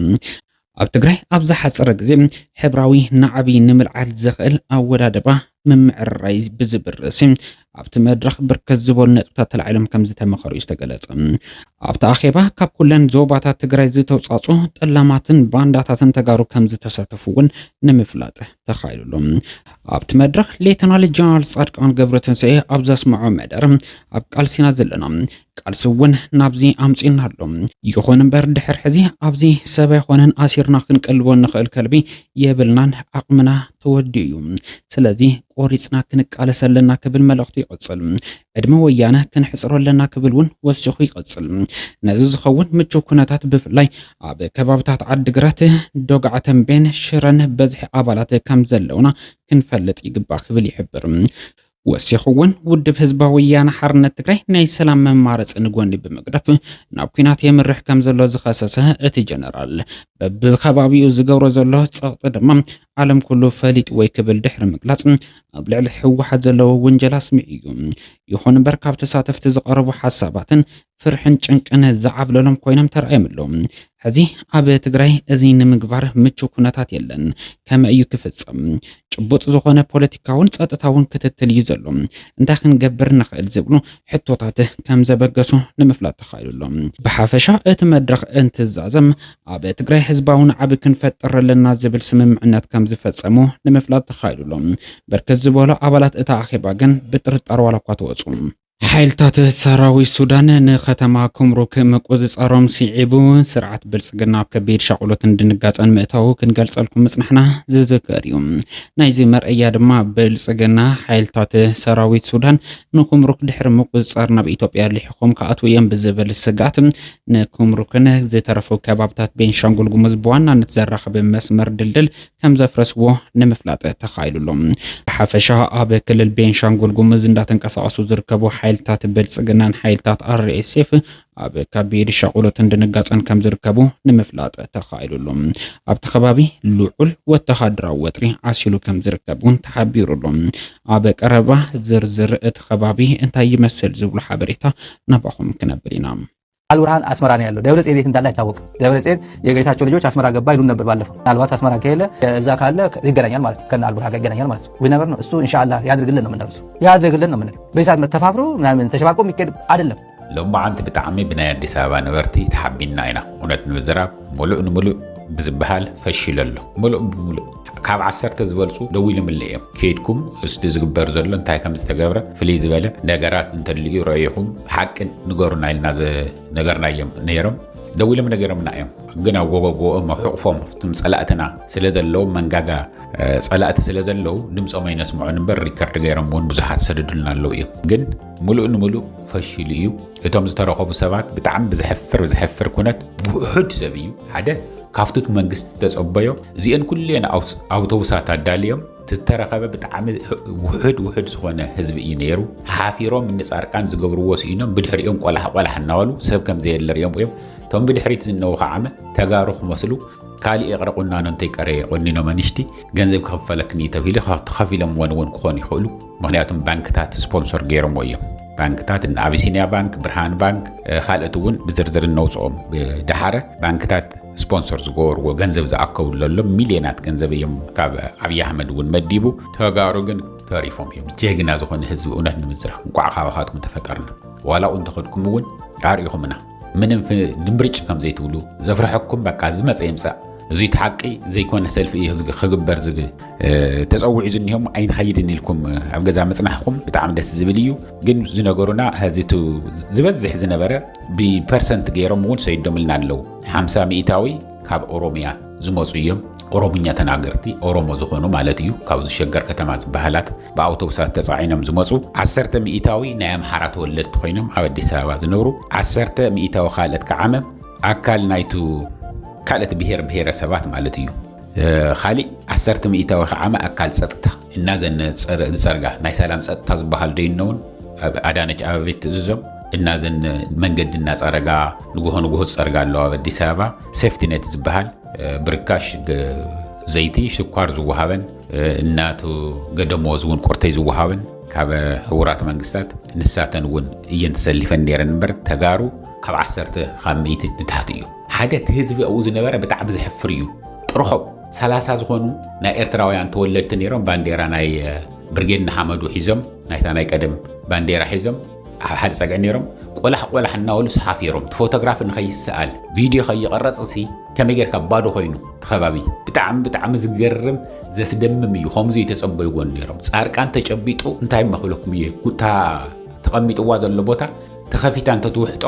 ኣብ ትግራይ ኣብ ዝሓፀረ ግዜ ሕብራዊ ናዕቢ ንምልዓል ዘኽእል ኣወዳድባ ምምዕርራይ ብዝብል ርእሲ ኣብቲ መድረኽ ብርከት ዝበሉ ነጥብታት ተላዒሎም ከም ዝተመኸሩ እዩ ዝተገለጸ። ኣብቲ ኣኼባ ካብ ኩለን ዞባታት ትግራይ ዝተውጻጹ ጠላማትን ባንዳታትን ተጋሩ ከም ዝተሳተፉ እውን ንምፍላጥ ተኻይሉሉ። ኣብቲ መድረኽ ሌተናል ጀነራል ጻድቃን ገብረትንሳኤ ኣብ ዘስምዖ መደር ኣብ ቃልሲና ዘለና ቃልሲ እውን ናብዚ ኣምጺኡና ኣሎ። ይኹን እምበር ድሕሪ ሕዚ ኣብዚ ሰብ ኣይኮነን ኣሲርና ክንቀልቦ እንኽእል ከልቢ የብልናን፣ ዓቕምና ተወዲኡ እዩ። ስለዚ ቆሪጽና ክንቃለስ ኣለና ክብል መልእኽቱ ይቕጽል። ዕድመ ወያነ ክንሕጽሮ ኣለና ክብል እውን ወሲኹ ይቕጽል። ነዚ ዝኸውን ምቹው ኩነታት ብፍላይ ኣብ ከባብታት ዓዲግራት፣ ዶግዓ ተምቤን፣ ሽረን በዝሒ ኣባላት ከምዘለውና ክንፈልጥ ይግባእ ክብል ይሕብር። ወሲኹ እውን ውድብ ህዝባዊ ወያነ ሓርነት ትግራይ ናይ ሰላም መማረፂ ንጎኒ ብምግዳፍ ናብ ኩናት የምርሕ ከም ዘሎ ዝኸሰሰ እቲ ጀነራል በብከባቢኡ ዝገብሮ ዘሎ ፀቕጢ ድማ ዓለም ኩሉ ፈሊጥዎይ ክብል ድሕሪ ምግላፅ ኣብ ልዕሊ ህወሓት ዘለዎ ውንጀላ ኣስሚዑ እዩ። ይኹን እምበር ካብ ተሳተፍቲ ዝቐረቡ ሓሳባትን ፍርሕን ጭንቅን ዝዓብለሎም ኮይኖም ተራእዮም ኣለዉ። ሕዚ ኣብ ትግራይ እዚ ንምግባር ምቹው ኩነታት የለን። ከመይ እዩ ክፍፀም? ጭቡጥ ዝኾነ ፖለቲካውን ፀጥታውን ክትትል እዩ ዘሎ። እንታይ ክንገብር ንኽእል ዝብሉ ሕቶታት ከምዘበገሱ ንምፍላጥ ተኻኢሉ ኣሎ። ብሓፈሻ እቲ መድረኽ እንትዛዘም ኣብ ትግራይ ህዝባዊ ናዕቢ ክንፈጥር ኣለና ዝብል ስምምዕነት ከምዝፈፀሙ ንምፍላጥ ተኻኢሉ ኣሎ። ብርክት ዝበሉ ኣባላት እቲ ኣኼባ ግን ብጥርጣረ ዋላኳ ተወፁ፣ ሓይልታት ሰራዊት ሱዳን ንከተማ ኩምሩክ ምቁጽጻሮም ስዒቡ፣ ስርዓት ብልጽግና ኣብ ከቢድ ሻቕሎትን ድንጋጸን ምእታዉ ክንገልጸልኩም ምጽናሕና ዝዝከር እዩ። ናይዚ መርኣያ ድማ ብልጽግና ሓይልታት ሰራዊት ሱዳን ንኩምሩክ ድሕሪ ምቁጽጻር ናብ ኢትዮጵያ ልሒኾም ክኣትዉ እዮም ብዝብል ስግኣት ንኩምሩክን ዝተረፉ ከባብታት ቤንሻንጉል ጉሙዝ ብዋናነት ዘራኽብ መስመር ድልድል ከምዘፍረስዎ ንምፍላጥ ተኻኢሉ ኣሎ። ብሓፈሻ ኣብ ክልል ቤንሻንጉል ጉሙዝ እንዳተንቀሳቐሱ ዝርከቡ ሓይልታት ብልፅግናን ሓይልታት RSF ኣብ ከቢድ ሻቑሎትን ድንጋፀን ከምዝርከቡ ንምፍላጥ ተኻኢሉ ኣሎ። ኣብቲ ከባቢ ልዑል ወተሃደራዊ ወጥሪ ዓሲሉ ከምዝርከብ እውን ተሓቢሩ ኣሎ። ኣብ ቀረባ ዝርዝር እቲ ከባቢ እንታይ ይመስል ዝብሉ ሓበሬታ ናባኹም ክነብል ኢና። ኣልቡርሃን ኣስመራ ነው ያለው። ደብረ ጽዮን የት እንዳለ አይታወቅም። ደብረ ጽዮን የጌታቸው ልጆች አስመራ ገባ ይሉን ነበር ባለፈው። ምናልባት አስመራ ከሌለ እዛ ካለ ይገናኛል ማለት ነው፣ ከነ አልቡርሃን ጋር ይገናኛል ማለት ነው። ዊነበር ነው እሱ። እንሻላ ያድርግልን ነው የምንለው፣ ያድርግልን ነው የምንለው። በዚህ ሰዓት መተፋፍሮ ምናምን ተሸባቆ የሚካሄድ አይደለም። ሎማዓንቲ ብጣዕሚ ብናይ ኣዲስ ኣበባ ነበርቲ ተሓቢንና ኢና እውነት ንምዝራብ ሙሉእ ንምሉእ ብዝበሃል ፈሺሉ ኣሎ ሙሉእ ብምሉእ ካብ ዓሰርተ ዝበልፁ ደዊሎምለይ እዮም ከይድኩም እስቲ ዝግበር ዘሎ እንታይ ከም ዝተገብረ ፍልይ ዝበለ ነገራት እንተልዩ ረኢኹም ሓቂ ንገሩና ኢልና ዝነገርናዮም ነይሮም ደዊሎም ነገሮምና እዮም ግን ኣብ ጎበጎኦም ኣብ ሕቑፎም ፍትም ፀላእትና ስለ ዘለዉ መንጋጋ ፀላእቲ ስለ ዘለዉ ድምፆም ኣይነስምዑን እምበር ሪከርድ ገይሮም እውን ብዙሓት ሰደዱልና ኣለዉ እዮም ግን ሙሉእ ንምሉእ ፈሽሉ እዩ እቶም ዝተረኸቡ ሰባት ብጣዕሚ ብዘሕፍር ዘሕፍር ኩነት ብውሑድ ሰብ እዩ ሓደ ካብቲ መንግስቲ ተጸበዮ እዚአን ኩሌን ኣውቶቡሳት ኣዳልዮም ዝተረኸበ ብጣዕሚ ውሑድ ውሑድ ዝኾነ ህዝቢ እዩ ነይሩ ሓፊሮም እኒ ጻርቃን ዝገብርዎ ስኢኖም ብድሕሪኦም ቆላሕ ቆላሕ እናበሉ ሰብ ከም ዘየለ ሪኦም እዮም እቶም ብድሕሪት ዝነዉ ከዓመ ተጋሩ ክመስሉ ካልእ ይቕረ ቁናኖ እንተይቀረየ ቆኒኖም ኣንሽቲ ገንዘብ ክኽፈለክኒ ተብሂሉ ተኸፊሎምዎን እውን ክኾኑ ይኽእሉ ምክንያቱም ባንክታት ስፖንሶር ገይሮምዎ እዮም ባንክታት እነ ኣቢሲንያ ባንክ ብርሃን ባንክ ካልኦት እውን ብዝርዝር እነውፅኦም ድሓረ ባንክታት ስፖንሰር ዝገበርዎ ገንዘብ ዝኣከቡ ዘሎ ሚልዮናት ገንዘብ እዮም ካብ ኣብዪ ኣሕመድ እውን መዲቡ ተጋሩ ግን ተሪፎም እዮም ጀግና ዝኾነ ህዝቢ እውነት ንምዝራሕ እንቋዕ ካባኻትኩም ተፈጠርና ዋላ ኡ እንተኸድኩም እውን ኣርእኹምና ምንም ድምብርጭ ከም ዘይትብሉ ዘፍርሐኩም በቃ ዝመፀ ይምፃእ እዙይ እቲ ሓቂ ዘይኮነ ሰልፊ እዩ ህዝቢ ክግበር ዝብል ተፀዊዑ ዝኒሆ እሞ ኣይንኸይድን ኢልኩም ኣብ ገዛ ምፅናሕኩም ብጣዕሚ ደስ ዝብል እዩ ግን ዝነገሩና ሕዚ እቲ ዝበዝሕ ዝነበረ ብፐርሰንት ገይሮም እውን ሰይዶምልና ኣለዉ ሓምሳ ሚእታዊ ካብ ኦሮሚያ ዝመፁ እዮም ኦሮምኛ ተናገርቲ ኦሮሞ ዝኾኑ ማለት እዩ ካብዚ ሸገር ከተማ ዝበሃላት ብኣውቶቡሳት ተጻዒኖም ዝመጹ ዓሰርተ ሚኢታዊ ናይ ኣምሓራ ተወለድቲ ኮይኖም ኣብ ኣዲስ ኣበባ ዝነብሩ ዓሰርተ ሚኢታዊ ካልእት ከዓመ ኣካል ናይቱ ካልእት ብሄር ብሄረሰባት ማለት እዩ ካሊእ ዓሰርተ ሚኢታዊ ከዓመ ኣካል ጸጥታ እናዘን ዝጸርጋ ናይ ሰላም ጸጥታ ዝበሃል ዶ ይነውን ኣብ ኣዳነች ኣበቤት ትእዝዞም እናዘን መንገዲ እናጸረጋ ንጉሆ ንጉሆ ዝጸርጋ ኣለዋ ኣብ ኣዲስ ኣበባ ሴፍቲነት ዝበሃል ብርካሽ ዘይቲ ሽኳር ዝወሃበን እናቱ ገደሞዝ እውን ኮርተይ ዝወሃበን ካብ ሕቡራት መንግስታት ንሳተን እውን እየን ተሰሊፈን ነይረን እምበር ተጋሩ ካብ ዓሰርተ ካብ ሚእቲ ንታሕቲ እዩ ሓደ እቲ ህዝቢ ኣብኡ ዝነበረ ብጣዕሚ ዘሕፍር እዩ ጥርሖ ሰላሳ ዝኾኑ ናይ ኤርትራውያን ተወለድቲ ነይሮም ባንዴራ ናይ ብርጌድ ንሓመዱ ሒዞም ናይታ ናይ ቀደም ባንዴራ ሒዞም ኣብ ሓደ ፀግዒ ነይሮም ቆላሕ ቆላሕ እናበሉ ሰሓፊሮም እቲ ፎቶግራፊ ንኸይሰኣል ቪድዮ ከይቐረፅሲ ከመይ ጌርካ ባዶ ኮይኑ እቲ ከባቢ ብጣዕሚ ብጣዕሚ ዝገርም ዘስደምም እዩ ከምኡ ዘይተጸበይዎ ነይሮም ጻርቃን ተጨቢጡ እንታይ መክለኩም እየ ጉታ ተቐሚጥዋ ዘሎ ቦታ ተኸፊታ እንተትውሕጦ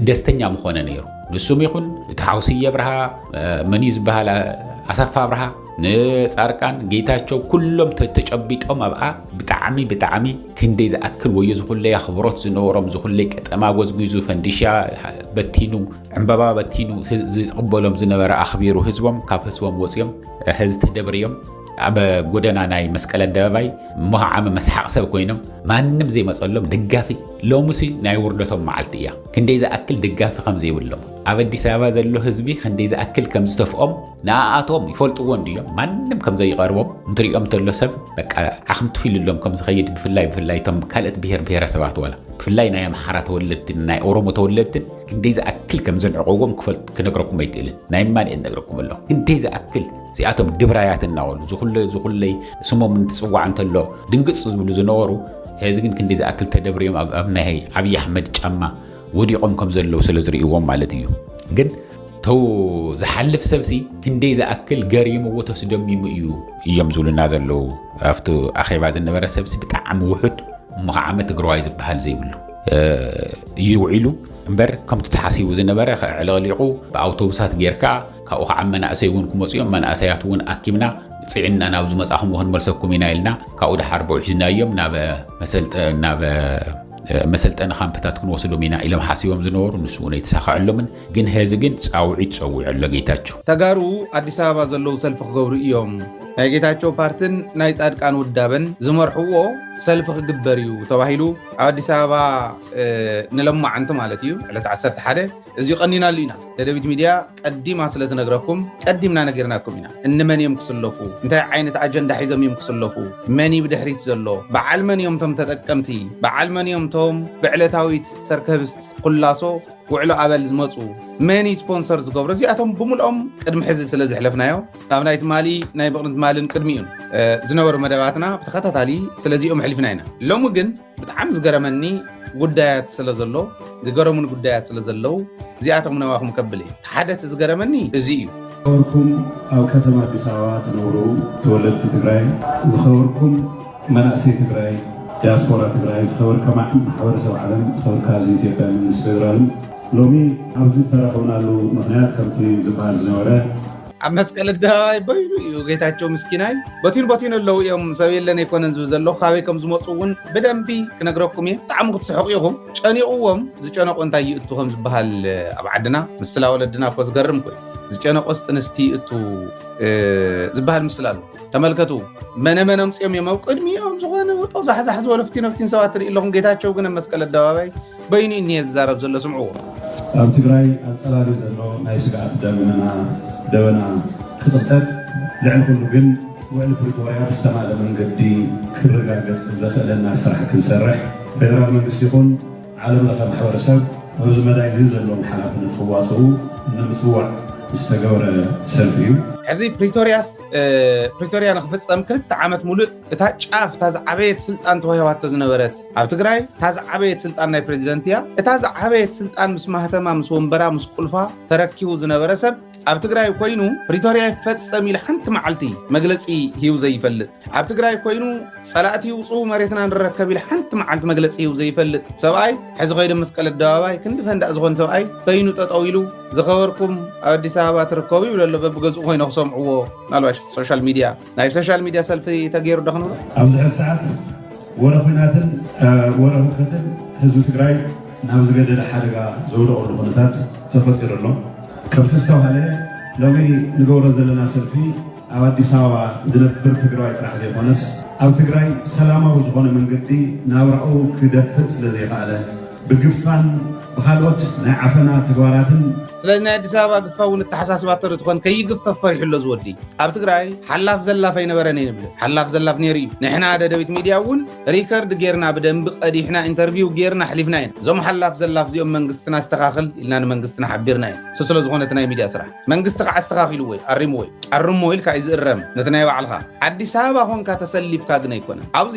ደስተኛ ምኾነ ነይሩ ንሱም ይኹን እቲ ሓውሲ የብርሃ መን እዩ ዝበሃል ኣሰፋ ኣብርሃ ንጻርቃን ጌታቸው ኩሎም ተጨቢጦም ኣብኣ ብጣዕሚ ብጣዕሚ ክንደይ ዝኣክል ወዮ ዝኹለይ ኣኽብሮት ዝነበሮም ዝኹለይ ቀጠማ ጎዝጒዙ ፈንዲሻ በቲኑ ዕምበባ በቲኑ ዝቕበሎም ዝነበረ ኣኽቢሩ ህዝቦም ካብ ህዝቦም ወፅዮም ህዝ ተደብርዮም ኣብ ጎደና ናይ መስቀል ኣደባባይ መዓመ መስሓቕ ሰብ ኮይኖም ማንም ዘይመፀሎም ደጋፊ ሎምሲ ናይ ውርደቶም መዓልቲ እያ ክንደይ ዝኣክል ደጋፊ ከም ዘይብሎም ኣብ ኣዲስ ኣበባ ዘሎ ህዝቢ ክንደይ ዝኣክል ከም ዝተፍኦም ንኣኣቶም ይፈልጥዎ እንድዮም ማንም ከም ዘይቐርቦም እንትሪኦም ተሎ ሰብ በቃ ዓኽም ትፊልሎም ከም ዝኸይድ ብፍላይ ብፍላይ እቶም ካልኦት ብሄር ብሄረሰባት ዋላ ብፍላይ ናይ ኣምሓራ ተወለድትን ናይ ኦሮሞ ተወለድትን ክንደይ ዝኣክል ከም ዘንዕቐዎም ክፈልጥ ክነግረኩም ኣይክእልን ናይ እማንኤል ነግረኩም ኣለኹ ክንደይ ዝኣክል እዚኣቶም ድብራያት እናበሉ ዝኹለይ ዝኹለይ ስሞም እንትፅዋዕ እንተሎ ድንግፅ ዝብሉ ዝነበሩ ሕዚ ግን ክንደይ ዝኣክል ተደብርዮም ኣብ ኣብ ናይ ዓብዪ ኣሕመድ ጫማ ወዲቖም ከም ዘለዉ ስለ ዝርእይዎም ማለት እዩ ግን ተው ዝሓልፍ ሰብሲ ክንደይ ዝኣክል ገሪምዎ ተስደሚሙ እዩ እዮም ዝብሉና ዘለዉ ኣብቲ ኣኼባ ዝነበረ ሰብሲ ብጣዕሚ ውሑድ እሞ ከዓ ዓመት ትግራዋይ ዝበሃል ዘይብሉ እዩ ውዒሉ እምበር ከምቲ ተሓሲቡ ዝነበረ ከዕለቕሊቑ ብኣውቶቡሳት ጌርካ ካብኡ ከዓ መናእሰይ እውን ክመፁ እዮም መናእሰያት እውን ኣኪብና ፅዒና ናብ ዝመፃኹም ክንመልሰኩም ኢና ኢልና ካብኡ ድሓር ብውሒዝናዮም ናብ መሰልጠኒ ካምፕታት ክንወስዶም ኢና ኢሎም ሓሲቦም ዝነበሩ ንሱ እውን ኣይተሳኸዐሎምን ግን ሄዚ ግን ፃውዒት ፀዊዑ ኣሎ ጌታቸው ተጋሩ ኣዲስ ኣበባ ዘለዉ ሰልፊ ክገብሩ እዮም ናይ ጌታቸው ፓርትን ናይ ፃድቃን ውዳበን ዝመርሕዎ ሰልፊ ክግበር እዩ ተባሂሉ ኣብ ኣዲስ ኣበባ ንለማዓንቲ ማለት እዩ ዕለት 11 እዚ ቀኒናሉ ኢና ደደቢት ሚድያ ቀዲማ ስለትነግረኩም ቀዲምና ነገርናኩም ኢና እንመን እዮም ክስለፉ እንታይ ዓይነት ኣጀንዳ ሒዞም እዮም ክስለፉ መን እዩ ብድሕሪት ዘሎ በዓል መን እዮም ቶም ተጠቀምቲ በዓል መን እዮም ቶም ብዕለታዊት ሰርከብስት ኩላሶ ውዕሎ ኣበል ዝመፁ መን እዩ ስፖንሰር ዝገብሮ እዚኣቶም ብምልኦም ቅድሚ ሕዚ ስለዝሕለፍናዮ ኣብ ናይ ትማሊ ናይ ብቕርን ትማልን ቅድሚኡን ዝነበሩ መደባትና ብተኸታታሊ ስለዚኦም ኣሕሊፍና ኢና ሎሚ ግን ብጣዕሚ ዝገረመኒ ጉዳያት ስለ ዘሎ ዝገረሙን ጉዳያት ስለ ዘለዉ እዚኣቶም ነባኹም ከብል እየ ሓደ እቲ ዝገረመኒ እዚ እዩ ዝኸበርኩም ኣብ ከተማ ኣዲስ ኣበባ ትነብሩ ተወለድቲ ትግራይ ዝኸበርኩም መናእሰይ ትግራይ ዲያስፖራ ትግራይ ዝኸበርካ ማሕበረሰብ ዓለም ዝኸበርካ ህዝቢ ኢትዮጵያ መንግስቲ ፌደራልን ሎሚ ኣብዚ ተረኸብናሉ ምክንያት ከምቲ ዝበሃል ዝነበረ ኣብ መስቀል ኣደባባይ በይኑ እዩ ጌታቸው ምስኪናይ በቲኑ በቲኑ ኣለዉ እዮም ሰብ የለን ኣይኮነን ዝብል ዘሎ ካበይ ከም ዝመፁ እውን ብደንቢ ክነግረኩም እየ ብጣዕሚ ክትስሕቁ ኢኹም ጨኒቕዎም ዝጨነቁ እንታይ ይእቱ ከም ዝበሃል ኣብ ዓድና ምስላ ወለድና እኮ ዝገርም ኮይኑ ዝጨነቆስ ጥንስቲ ይእቱ ዝበሃል ምስላ ኣሎ ተመልከቱ መነመን ኣምፅኦም እዮም ኣብ ቅድሚኦም ዝኾነ ውጦ ዛሕዛሕ ዝበሎ ፍቲን ፍቲን ሰባት ትርኢ ኣለኹም ጌታቸው ግን ኣብ መስቀል ኣደባባይ በይኑ እኒየ ዝዛረብ ዘሎ ስምዕዎ ኣብ ትግራይ ኣፀላሊ ዘሎ ናይ ስግኣት ደመና ደበና ክቕጠጥ ልዕሊ ኩሉ ግን ውዕሊ ፕሪቶርያ ብዝተማለ መንገዲ ክረጋገፅ ዘኽእለና ስራሕ ክንሰርሕ ፌደራል መንግስቲ ይኹን ዓለም ለኸ ማሕበረሰብ ኣብዚ መዳይ እዚ ዘለዎም ሓላፍነት ክዋፅኡ ንምፅዋዕ ዝተገብረ ሰልፊ እዩ ሕዚ ፕሪቶርያስ ፕሪቶርያ ንክፍፀም ክልተ ዓመት ሙሉእ እታ ጫፍ እታ ዝዓበየት ስልጣን ተዋሂባቶ ዝነበረት ኣብ ትግራይ እታ ዝዓበየት ስልጣን ናይ ፕሬዚደንት እያ እታ ዝዓበየት ስልጣን ምስ ማህተማ ምስ ወንበራ ምስ ቁልፋ ተረኪቡ ዝነበረ ሰብ ኣብ ትግራይ ኮይኑ ፕሪቶርያ ይፈፀም ኢሉ ሓንቲ መዓልቲ መግለፂ ሂቡ ዘይፈልጥ ኣብ ትግራይ ኮይኑ ፀላእቲ ይውፅኡ መሬትና ንረከብ ኢሉ ሓንቲ መዓልቲ መግለፂ ሂቡ ዘይፈልጥ ሰብኣይ ሕዚ ከይዶ መስቀል ኣደባባይ ክንዲ ፈንዳእ ዝኾን ሰብኣይ በይኑ ጠጠው ኢሉ ዝኸበርኩም ኣብ ኣዲስ ኣበባ ትርከቡ ይብለ ኣሎ በብገዝኡ ኮይኖ ክሰምዕዎ ናልባሽ ሶሻል ሚድያ ናይ ሶሻል ሚድያ ሰልፊ ተገይሩ ዶ ክንብሎ ኣብዚ ሕዚ ሰዓት ወረ ኩናትን ወረ ህውከትን ህዝቢ ትግራይ ናብ ዝገደደ ሓደጋ ዘውደቐሉ ኩነታት ተፈጢሩ ኣሎ ከምቲ ዝተባሃለ ሎሚ ንገብሮ ዘለና ሰልፊ ኣብ ኣዲስ ኣበባ ዝነብር ትግራዋይ ጥራሕ ዘይኮነስ ኣብ ትግራይ ሰላማዊ ዝኾነ መንገዲ ናብራኡ ክደፍእ ስለ ዘይኸኣለ ብግፋን ብኻልኦት ናይ ዓፈና ተግባራትን ስለዚ ናይ ኣዲስ ኣበባ ግፋ እውን እተሓሳስባ ተርትኾን ከይግፈፍ ፈሪሑ ኣሎ ዝወዲ ኣብ ትግራይ ሓላፍ ዘላፍ ኣይነበረን እየ ንብል ሓላፍ ዘላፍ ነይሩ እዩ ንሕና ደደቢት ሚድያ እውን ሪከርድ ጌርና ብደንቢ ቀዲሕና ኢንተርቪው ጌርና ኣሕሊፍና ኢና እዞም ሓላፍ ዘላፍ እዚኦም መንግስትና ኣስተኻኽል ኢልና ንመንግስትና ሓቢርና እዩ እሱ ስለዝኾነ እቲ ናይ ሚድያ ስራሕ መንግስቲ ከዓ ኣስተካኪሉ ወይ ኣሪሙ ወይ ኣርሞ ኢልካ እዩ ዝእረም ነቲ ናይ ባዕልካ ኣዲስ ኣበባ ኮንካ ተሰሊፍካ ግን ኣይኮነን ኣብዚ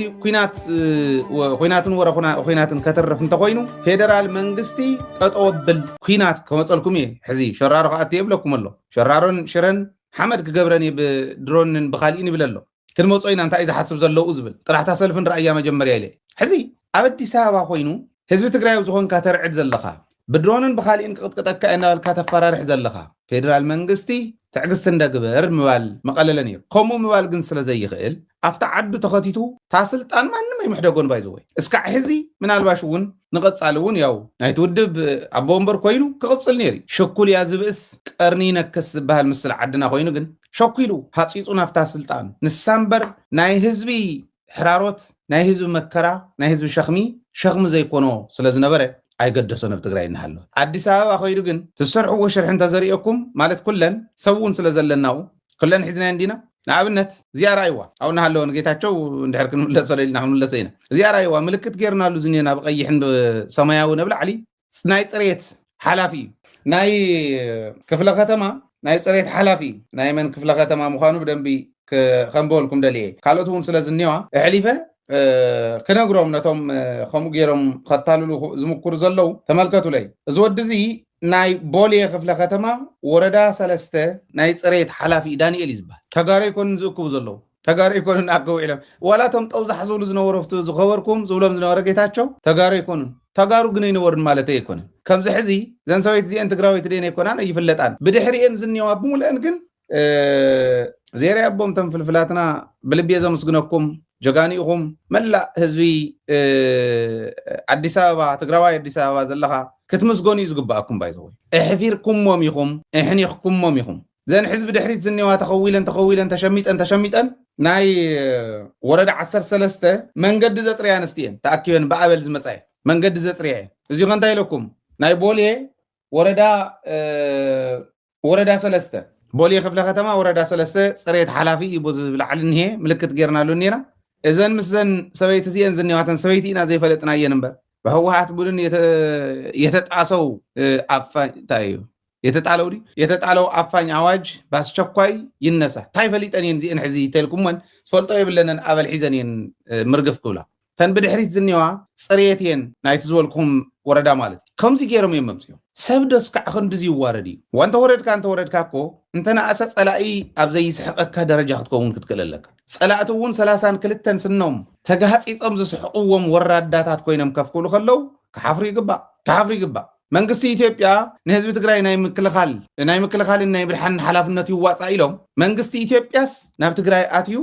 ኩናትን ወረ ኩናትን ከተርፍ እንተኮይኑ ፌደራል መንግስቲ ጠጠው ኣብል ኩናት ከመፀልኩም እየ ሕዚ ሸራሮ ከኣቲ የብለኩም ኣሎ ሸራሮን ሽረን ሓመድ ክገብረን እየ ብድሮንን ብካሊእን ይብል ኣሎ ክንመፆ ኢና እንታይ እዩ ዝሓስብ ዘለዉ ዝብል ጥራሕታ ሰልፍን ራእያ መጀመርያ ኢለ ሕዚ ኣብ ኣዲስ ኣበባ ኮይኑ ህዝቢ ትግራይ ዝኾንካ ተርዕድ ዘለኻ ብድሮንን ብካሊእን ክቕጥቅጠካ እናበልካ ተፈራርሕ ዘለኻ ፌደራል መንግስቲ ትዕግስቲ እንደ ግበር ምባል መቐለለ ነይሩ ከምኡ ምባል ግን ስለ ዘይኽእል ኣብቲ ዓዱ ተኸቲቱ ታስልጣን ማንም ኣይምሕደጎን ባይዘወይ እስካዕ ሕዚ ምናልባሽ እውን ንቐፃሊ እውን ያው ናይቲ ውድብ ኣቦ ወንበር ኮይኑ ክቕፅል ነይሩ እዩ። ሸኩልያ ዝብእስ ቀርኒ ይነክስ ዝበሃል ምስላ ዓድና ኮይኑ ግን ሸኩሉ ሃፂፁ ናብታ ስልጣን ንሳ እምበር ናይ ህዝቢ ሕራሮት፣ ናይ ህዝቢ መከራ፣ ናይ ህዝቢ ሸኽሚ ሸኽሚ ዘይኮኖ ስለ ዝነበረ ኣይገደሶን ኣብ ትግራይ እናሃለወ። ኣዲስ ኣበባ ከይዱ ግን ትሰርሕዎ ሽርሒ እንተዘርእየኩም ማለት ኩለን ሰብ እውን ስለ ዘለናኡ ኩለን ሒዝናየን ዲና ንኣብነት እዚኣ ርኣይዋ ኣብኡ እናሃለወ ንጌታቸው እንድሕር ክንምለሶ ኢልና ክንምለሶ ኢና እዚኣ ርኣይዋ ምልክት ጌርናሉ ዝኒና ብቀይሕን ሰማያዊ ነብላዕሊ ናይ ፅሬት ሓላፊ እዩ ናይ ክፍለ ከተማ ናይ ፅሬት ሓላፊ እዩ ናይ መን ክፍለ ከተማ ምዃኑ ብደንቢ ከንበወልኩም ደልየ ካልኦት እውን ስለ ዝኒዋ እሕሊፈ ክነግሮም ነቶም ከምኡ ገይሮም ከታልሉ ዝምክሩ ዘለው ተመልከቱለይ እዚ ወዲ እዚ ናይ ቦሌ ክፍለ ከተማ ወረዳ ሰለስተ ናይ ፅሬት ሓላፊ እዩ ዳኒኤል እዩ ዝብሃል ተጋሩ ኣይኮኑን ዝእክቡ ዘለዉ ተጋሩ ኣይኮኑን ኣከቡ ዒሎም ዋላ እቶም ጠውዛሕ ዝብሉ ዝነበሩ ኣብቲ ዝኸበርኩም ዝብሎም ዝነበረ ጌታቸው ተጋሩ ኣይኮኑን ተጋሩ ግን ኣይነበሩን ማለተይ ኣይኮነን ከምዚ ሕዚ ዘን ሰበይቲ እዚኤን ትግራወይቲ ድየን ኣይኮናን ኣይፍለጣን ብድሕሪኤን ዝኒዋ ብሙሉኤን ግን ዜራ ኣቦም ተም ፍልፍላትና ብልቤ ዘምስግነኩም ጀጋኒኢኹም መላእ ህዝቢ ኣዲስ ኣበባ ትግራዋይ ኣዲስ ኣበባ ዘለኻ ክትምስገኑ እዩ ዝግባኣኩም ባይዘወይ እሕፊርኩሞም ኢኹም እሕኒኽኩሞም ኢኹም ዘን ሕዝቢ ድሕሪት ዝኔዋ ተኸዊለን ተኸዊለን ተሸሚጠን ተሸሚጠን ናይ ወረዳ ዓሰርተ ሰለስተ መንገዲ ዘፅርያ ኣንስቲ እየን ተኣኪበን ብኣበል ዝመፃ እየን መንገዲ ዘፅርያ እየን እዚ ከ እንታይ ኢለኩም ናይ ቦሌ ወረዳ ወረዳ ሰለስተ ቦሌ ክፍለ ከተማ ወረዳ ሰለስተ ፅሬት ሓላፊ እዩ ቦዚ ብላዕሊ እኒሄ ምልክት ጌርናሉ እኒና እዘን ምስዘን ሰበይቲ እዚአን ዝኒዋተን ሰበይቲ ኢና ዘይፈለጥናየን እምበር በህወሓት ቡድን የተጣሰው ኣፋኝ እንታይ እዩ የተጣለው ድዩ የተጣለው ኣፋኝ ኣዋጅ በአስቸኳይ ይነሳ እንታይ ፈሊጠን እየን እዚአን ሕዚ ተልኩመን ዝፈልጦ የብለንን ኣበል ሒዘን እየን ምርግፍ ክብላ እተን ብድሕሪት ዝኔዋ ጽርየት እየን ናይቲ ዝበልኩኹም ወረዳ ማለት እዩ ከምዚ ጌሮም እዮም መምጺኦም ሰብ ዶስ ክዓ ክንድዚ ይዋረድ እዩ እዋ እንተወረድካ እንተወረድካ እኮ እንተነኣሰ ጸላኢ ኣብ ዘይስሕቀካ ደረጃ ክትከውን ክትክእል ኣለካ ጸላእቲ እውን ሰላሳን ክልተን ስኖም ተጋህጺጾም ዝስሕቅዎም ወራዳታት ኮይኖም ከፍ ክብሉ ከለው ክሓፍሩ ይግባእ ክሓፍሩ ይግባእ መንግስቲ ኢትዮጵያ ንህዝቢ ትግራይ ናይ ምክልኻል ናይ ምክልኻልን ናይ ምድሓንን ሓላፍነት ይዋፃእ ኢሎም መንግስቲ ኢትዮጵያስ ናብ ትግራይ ኣትዩ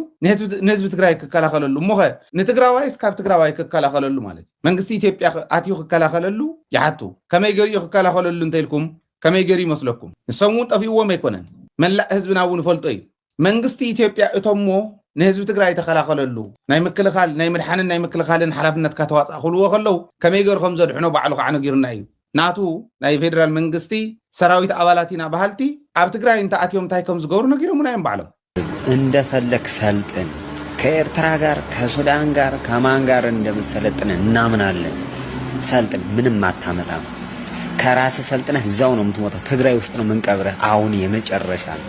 ንህዝቢ ትግራይ ክከላኸለሉ እሞኸ ንትግራዋይስ ካብ ትግራዋይ ክከላኸለሉ ማለት እዩ መንግስቲ ኢትዮጵያ ኣትዩ ክከላኸለሉ ይሓቱ ከመይ ገሪኡ ክከላኸለሉ እንተኢልኩም ከመይ ገይሩ ይመስለኩም ንሶም እውን ጠፊእዎም ኣይኮነን መላእ ህዝብና እውን ይፈልጦ እዩ መንግስቲ ኢትዮጵያ እቶሞ ንህዝቢ ትግራይ ተኸላኸለሉ ናይ ምክልኻል ናይ ምድሓንን ናይ ምክልኻልን ሓላፍነትካ ተዋፃእ ክብልዎ ከለው ከመይ ገይሩ ከም ዘድሕኖ ባዕሉ ከዓ ነጊሩና እዩ ናቱ ናይ ፌደራል መንግስቲ ሰራዊት ኣባላት ኢና በሃልቲ ኣብ ትግራይ እንተኣትዮም እንታይ ከም ዝገብሩ ነጊሮሙና እዮም ባዕሎም እንደፈለክ ሰልጥን ከኤርትራ ጋር ከሱዳን ጋር ከማን ጋር እንደምሰለጥን እናምናለን። ሰልጥን ምንም አታመጣም። ከራስ ሰልጥነህ እዛው ነው የምትሞተው። ትግራይ ውስጥ ነው የምንቀብረህ። አሁን የመጨረሻ ነው።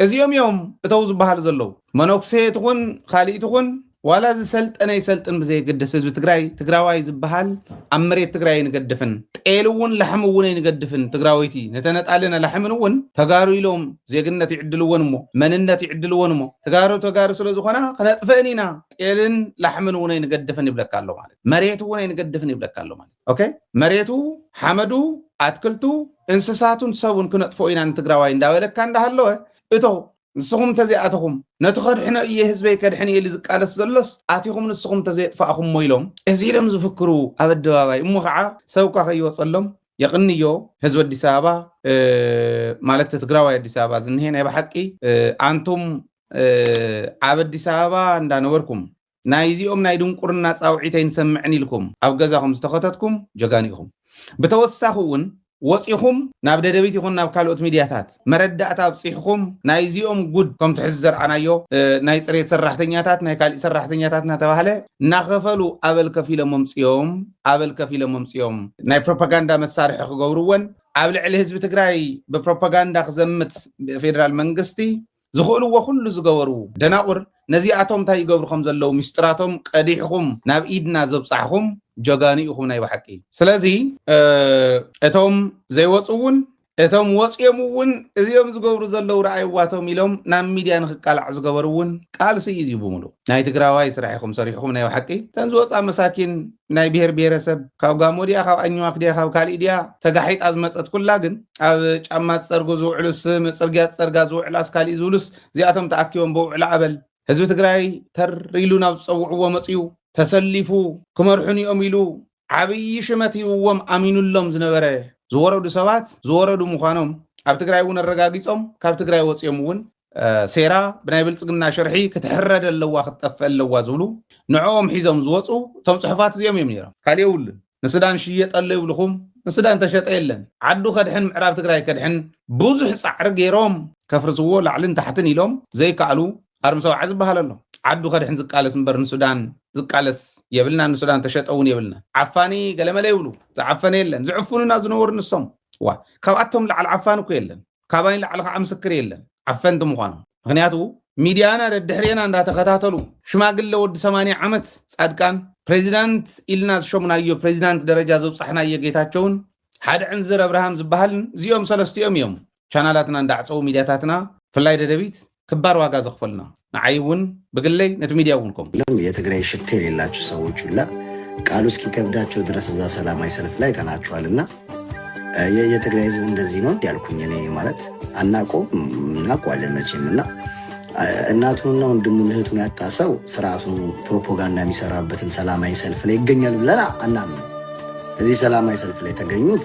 እዚኦም እዮም እተው ዝበሃሉ ዘለዉ። መነኩሴ ትኹን ኻሊእ ትኹን ዋላ ዝሰልጠነ ይሰልጥን ብዘየገድስ ህዝቢ ትግራይ ትግራዋይ ዝበሃል ኣብ መሬት ትግራይ ኣይንገድፍን። ጤል እውን ላሕሚ እውን ኣይንገድፍን። ትግራወይቲ ንተነጣሊ ነላሕምን እውን ተጋሩ ኢሎም ዜግነት ይዕድልወን እሞ መንነት ይዕድልወን እሞ ተጋሩ ተጋሩ ስለ ዝኾና ክነጥፈእን ኢና። ጤልን ላሕምን እውን ኣይንገድፍን ይብለካ ኣሎ ማለት መሬት እውን ኣይንገድፍን ይብለካ ኣሎ ማለት ኦኬ መሬቱ ሓመዱ ኣትክልቱ እንስሳቱን ሰቡን ክነጥፍኦ ኢና ንትግራዋይ እንዳበለካ እንዳሃለወ እቶ ንስኹም እንተዘይኣተኹም ነቲ ከድሕኖ እየ ህዝበይ ከድሕን እየ ኢሉ ዝቃለስ ዘሎስ ኣቲኹም ንስኹም እንተዘየጥፋእኹሞ ኢሎም እዚ ኢሎም ዝፍክሩ ኣብ ኣደባባይ እሞ ከዓ ሰብ እኳ ከይወፀሎም የቕንዮ ህዝቢ ኣዲስ ኣበባ ማለት ትግራዋይ ኣዲስ ኣበባ ዝንሄ ናይ ብሓቂ ኣንቱም ኣብ ኣዲስ ኣበባ እንዳነበርኩም ናይዚኦም ናይ ድንቁርና ጻውዒት ኣይንሰምዕን ኢልኩም ኣብ ገዛኹም ዝተኸተትኩም ጀጋኑ ኢኹም። ብተወሳኺ እውን ወጺኹም ናብ ደደቢት ይኹን ናብ ካልኦት ሚድያታት መረዳእታ ኣብጺሕኹም ናይዚኦም ጉድ ከምቲ ሕዚ ዘርኣናዮ ናይ ጽሬት ሰራሕተኛታት ናይ ካሊእ ሰራሕተኛታት እናተባህለ እናኸፈሉ ኣበል ከፊሎም ኣምጽኦም ኣበል ከፊሎም ኣምጽኦም ናይ ፕሮፓጋንዳ መሳርሒ ክገብርወን ኣብ ልዕሊ ህዝቢ ትግራይ ብፕሮፓጋንዳ ክዘምት ፌደራል መንግስቲ ዝኽእልዎ ኩሉ ዝገበሩ ደናቑር ነዚኣቶም እንታይ ይገብሩ ከም ዘለዉ ሚስጥራቶም ቀዲሕኹም ናብ ኢድና ዘብጻሕኹም ጀጋኑ ኢኹም ናይ ብሓቂ። ስለዚ እቶም ዘይወጹ እውን እቶም ወጺኦም እውን እዚኦም ዝገብሩ ዘለዉ ረኣይዋቶም ኢሎም ናብ ሚድያ ንክቃላዕ ዝገበሩ እውን ቃልሲ እዩ እዚ ብሙሉእ ናይ ትግራዋይ ስራሕ ኢኹም ሰሪሕኹም ናይ ብሓቂ። እተን ዝወጻ መሳኪን ናይ ብሄር ብሄረሰብ ካብ ጋሞ ድያ ካብ ኣኝዋክ ድያ ካብ ካሊእ ድያ ተጋሒጣ ዝመፀት ኩላ ግን ኣብ ጫማ ዝፀርጉ ዝውዕሉስ ፅርግያ ዝፀርጋ ዝውዕላስ ካሊእ ዝብሉስ እዚኣቶም ተኣኪቦም ብውዕላ ኣበል ህዝቢ ትግራይ ተር ኢሉ ናብ ዝፀውዕዎ መፅዩ ተሰሊፉ ክመርሑን እዮም ኢሉ ዓብዪ ሽመት ሂብዎም ኣሚኑሎም ዝነበረ ዝወረዱ ሰባት ዝወረዱ ምዃኖም ኣብ ትግራይ እውን ኣረጋጊፆም ካብ ትግራይ ወፅዮም እውን ሴራ ብናይ ብልፅግና ሽርሒ ክትሕረድ ኣለዋ ክትጠፍእ ኣለዋ ዝብሉ ንዕኦም ሒዞም ዝወፁ እቶም ፅሑፋት እዚኦም እዮም ነይሮም ካሊእ የብሉን ንሱዳን ሽየጥ ኣሎ ይብልኹም ንሱዳን ተሸጠ የለን ዓዱ ከድሕን ምዕራብ ትግራይ ከድሕን ብዙሕ ፃዕሪ ገይሮም ከፍርስዎ ላዕልን ታሕትን ኢሎም ዘይከኣሉ ኣርሚ ሰውዓ ዝበሃል ኣሎ ዓዱ ከድሕን ዝቃለስ እምበር ንሱዳን ዝቃለስ የብልና ንሱዳን ተሸጠ እውን የብልና ዓፋኒ ገለመለ ይብሉ ዝዓፈነ የለን ዝዕፍኑና ዝነበሩ ንሶም ዋ ካብኣቶም ላዕሊ ዓፋኒ እኮ የለን ካባይ ንላዕሊ ከዓ ምስክር የለን ዓፈንቲ ምኳኖም ምክንያቱ ሚድያና ደድሕሬና እንዳተከታተሉ ሽማግለ ወዲ ሰማንያ ዓመት ፃድቃን ፕሬዚዳንት ኢልና ዝሾምናዮ ፕሬዚዳንት ደረጃ ዘብፃሕናዮ ጌታቸውን ሓደ ዕንዝር ኣብርሃም ዝበሃልን እዚኦም ሰለስቲኦም እዮም ቻናላትና እንዳዕፀዉ ሚድያታትና ብፍላይ ደደቢት ክባር ዋጋ ዘኽፈሉና ንዓይ እውን ብግለይ ነቲ ሚድያ እውን ከምኡ። እናም የትግራይ ሽታ የሌላችሁ ሰዎች ሁላ ቃሉ እስኪከብዳቸው ድረስ እዛ ሰላማዊ ሰልፍ ላይ ተናችኋል እና የትግራይ ህዝብ እንደዚህ ነው እንዲያልኩኝ እኔ ማለት አናቆ እናቋለን መቼም እና እናቱንና ወንድሙን እህቱን ያጣ ሰው ስርዓቱ ፕሮፓጋንዳ የሚሰራበትን ሰላማዊ ሰልፍ ላይ ይገኛል ብለን አናምን። እዚህ ሰላማዊ ሰልፍ ላይ የተገኙት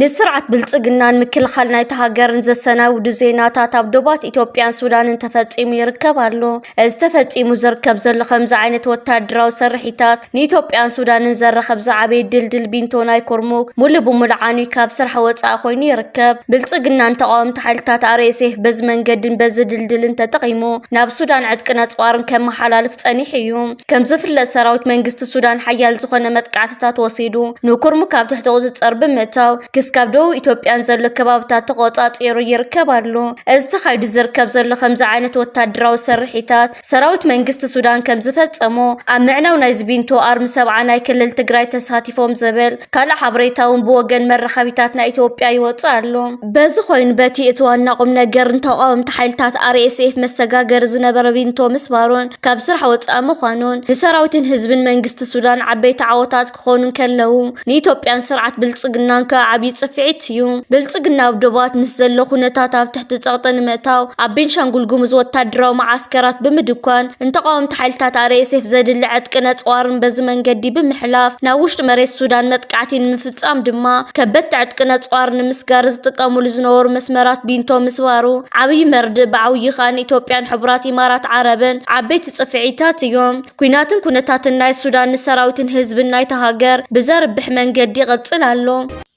ንስርዓት ብልፅግናን ምክልኻል ናይታ ሃገርን ዘሰናብዱ ዜናታት ኣብ ዶባት ኢትዮጵያን ሱዳንን ተፈፂሙ ይርከብ ኣሎ። እዚ ተፈፂሙ ዝርከብ ዘሎ ከምዚ ዓይነት ወታደራዊ ስርሒታት ንኢትዮጵያን ሱዳንን ዘራኸብ ዝዓበየ ድልድል ቢንቶ ናይ ኩርሙክ ሙሉእ ብሙሉእ ዓንዩ ካብ ስራሕ ወፃኢ ኮይኑ ይርከብ። ብልፅግናን ተቓወምቲ ሓይልታት RSF በዚ መንገድን በዚ ድልድልን ተጠቒሙ ናብ ሱዳን ዕጥቅን ኣፅዋርን ከመሓላልፍ ፀኒሑ እዩ። ከምዝፍለጥ ሰራዊት መንግስቲ ሱዳን ሓያል ዝኾነ መጥቃዕትታት ወሲዱ ንኩርሙክ ኣብ ትሕቲ ቁፅፅር ብምእታው ክስካብ ደቡብ ኢትዮጵያን ዘሎ ከባብታት ተቆፃፂሩ ይርከብ ኣሎ። እዚ ተኻይዱ ዝርከብ ዘሎ ከምዚ ዓይነት ወታደራዊ ስርሒታት ሰራዊት መንግስቲ ሱዳን ከምዝፈፀሞ ኣብ ምዕናው ናይ ዝቢንቶ ኣርሚ ሰብዓ ናይ ክልል ትግራይ ተሳቲፎም ዝብል ካልእ ሓበሬታ እውን ብወገን መራኸቢታት ናይ ኢትዮጵያ ይወፅእ ኣሎ። በዚ ኮይኑ በቲ እቲ ዋና ቁምነገርን ተቋወምቲ ሓይልታት RSF መሰጋገሪ ዝነበረ ቢንቶ ምስባሩን ካብ ስራሕ ወፃኢ ምዃኑን ንሰራዊትን ህዝብን መንግስቲ ሱዳን ዓበይቲ ዓወታት ክኾኑ እንከለዉ ንኢትዮጵያን ስርዓት ብልፅግናን ከዓ ዓብዪ ፅፍዒት እዩ። ብልፅግና ኣብ ዶባት ምስ ዘሎ ኩነታት ኣብ ትሕቲ ፀቕጢ ንምእታው ኣብ ቤንሻንጉል ጉሙዝ ወታደራዊ መዓስከራት ብምድኳን ንተቓወምቲ ሓይልታት RSF ዘድሊ ዕጥቅን ኣፅዋርን በዚ መንገዲ ብምሕላፍ ናብ ውሽጢ መሬት ሱዳን መጥቃዕቲ ንምፍፃም ብምፍጻም ድማ ከበድቲ ዕጥቂ ነጽዋር ንምስጋር ዝጥቀሙሉ ዝነበሩ መስመራት ቢንቶ ምስባሩ ዓብይ መርድእ ብዓውዪ ከኣ ንኢትዮጵያን ሕቡራት ኢማራት ዓረብን ዓበይቲ ጽፍዒታት እዮም። ኲናትን ኩነታትን ናይ ሱዳን ንሰራዊትን ህዝብን ናይታ ሃገር ብዘርብሕ መንገዲ ይቕጽል ኣሎ።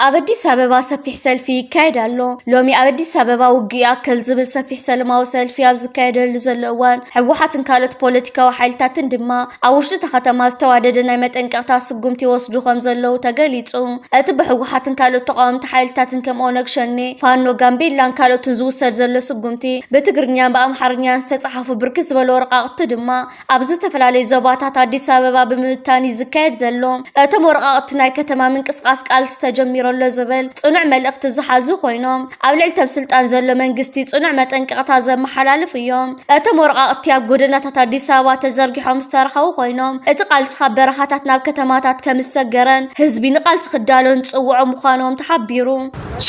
ኣብ ኣዲስ ኣበባ ሰፊሕ ሰልፊ ይካየድ ኣሎ። ሎሚ ኣብ ኣዲስ ኣበባ ውግእ ይኣክል ዝብል ሰፊሕ ሰለማዊ ሰልፊ ኣብ ዝካየደሉ ዘሎ እዋን፣ ህወሓትን ካልኦት ፖለቲካዊ ሓይልታትን ድማ ኣብ ውሽጢ እታ ከተማ ዝተዋደደ ናይ መጠንቀቕታ ስጉምቲ ይወስዱ ከምዘለዉ ተገሊፁ። እቲ ብህወሓትን ካልኦት ተቓወምቲ ሓይልታትን ከም ኦነግ ሸኔ፣ ፋኖ፣ ጋምቤላን ካልኦትን ዝውሰድ ዘሎ ስጉምቲ ብትግርኛን ብኣምሓርኛን ዝተፅሓፉ ብርክት ዝበሉ ወረቓቕቲ ድማ ኣብ ዝተፈላለዩ ዞባታት ኣዲስ ኣበባ ብምብታን እዩ ዝካየድ ዘሎ። እቶም ወረቓቕቲ ናይ ከተማ ምንቅስቓስ ቃልሲ ተጀሚሩ ኣሎ ዝብል ፅኑዕ መልእኽቲ ዝሓዙ ኮይኖም ኣብ ልዕሊ ተብ ስልጣን ዘሎ መንግስቲ ጽኑዕ መጠንቀቕታ ዘመሓላልፉ እዮም። እቶም ወረቓቕቲ ኣብ ጎደናታት ኣዲስ ኣበባ ተዘርጊሖም ዝተረኸቡ ኮይኖም፣ እቲ ቃልሲ ካብ በረኻታት ናብ ከተማታት ከም ዝሰገረን ህዝቢ ንቃልሲ ክዳሎን ዝጽውዑ ምዃኖም ተሓቢሩ።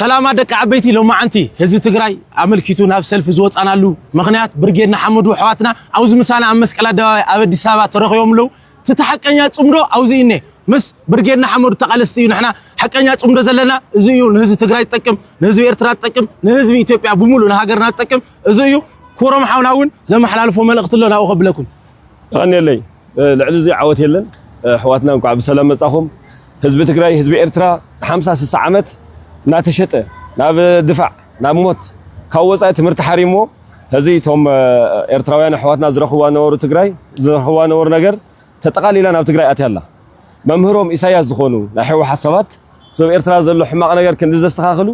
ሰላማ ደቂ ዓበይቲ ሎማዓንቲ ህዝቢ ትግራይ ኣመልኪቱ ናብ ሰልፊ ዝወፃናሉ ምኽንያት ብርጌድ ንሓመዱ ኣሕዋትና ኣብዚ ምሳና ኣብ መስቀል ኣደባባይ ኣብ ኣዲስ ኣበባ ተረኺቦም ኣለው። እቲ ተሓቀኛ ጽምዶ ኣውዚ እዩኔ ምስ ብርጌድ ንሓመዱ ተቃለስቲ እዩ ንሕና ሓቀኛ ጽምዶ ዘለና እዚ እዩ ንህዝቢ ትግራይ ዝጠቅም ንህዝቢ ኤርትራ ዝጠቅም ንህዝቢ ኢትዮጵያ ብምሉእ ንሃገርና ዝጠቅም እዚ እዩ ኩሮም ሓውና እውን ዘመሓላልፎ መልእኽቲ ኣሎ ናብኡ ከብለኩም ይቀንየለይ ልዕሊ እዚ ዓወት የለን ኣሕዋትና እንኳዕ ብሰላም መጻኹም ህዝቢ ትግራይ ህዝቢ ኤርትራ ን50 60 ዓመት እናተሸጠ ናብ ድፋዕ ናብ ሞት ካብ ወጻኢ ትምህርቲ ሓሪምዎ ሕዚ እቶም ኤርትራውያን ኣሕዋትና ዝረኽብዋ ነበሩ ትግራይ ዝረኽብዋ ነበሩ ነገር ተጠቓሊላ ናብ ትግራይ ኣትያ ኣላ። መምህሮም ኢሳያስ ዝኾኑ ናይ ሕወሓት ሰባት እቶም ኤርትራ ዘሎ ሕማቕ ነገር ክንዲ ዘስተኻኽሉ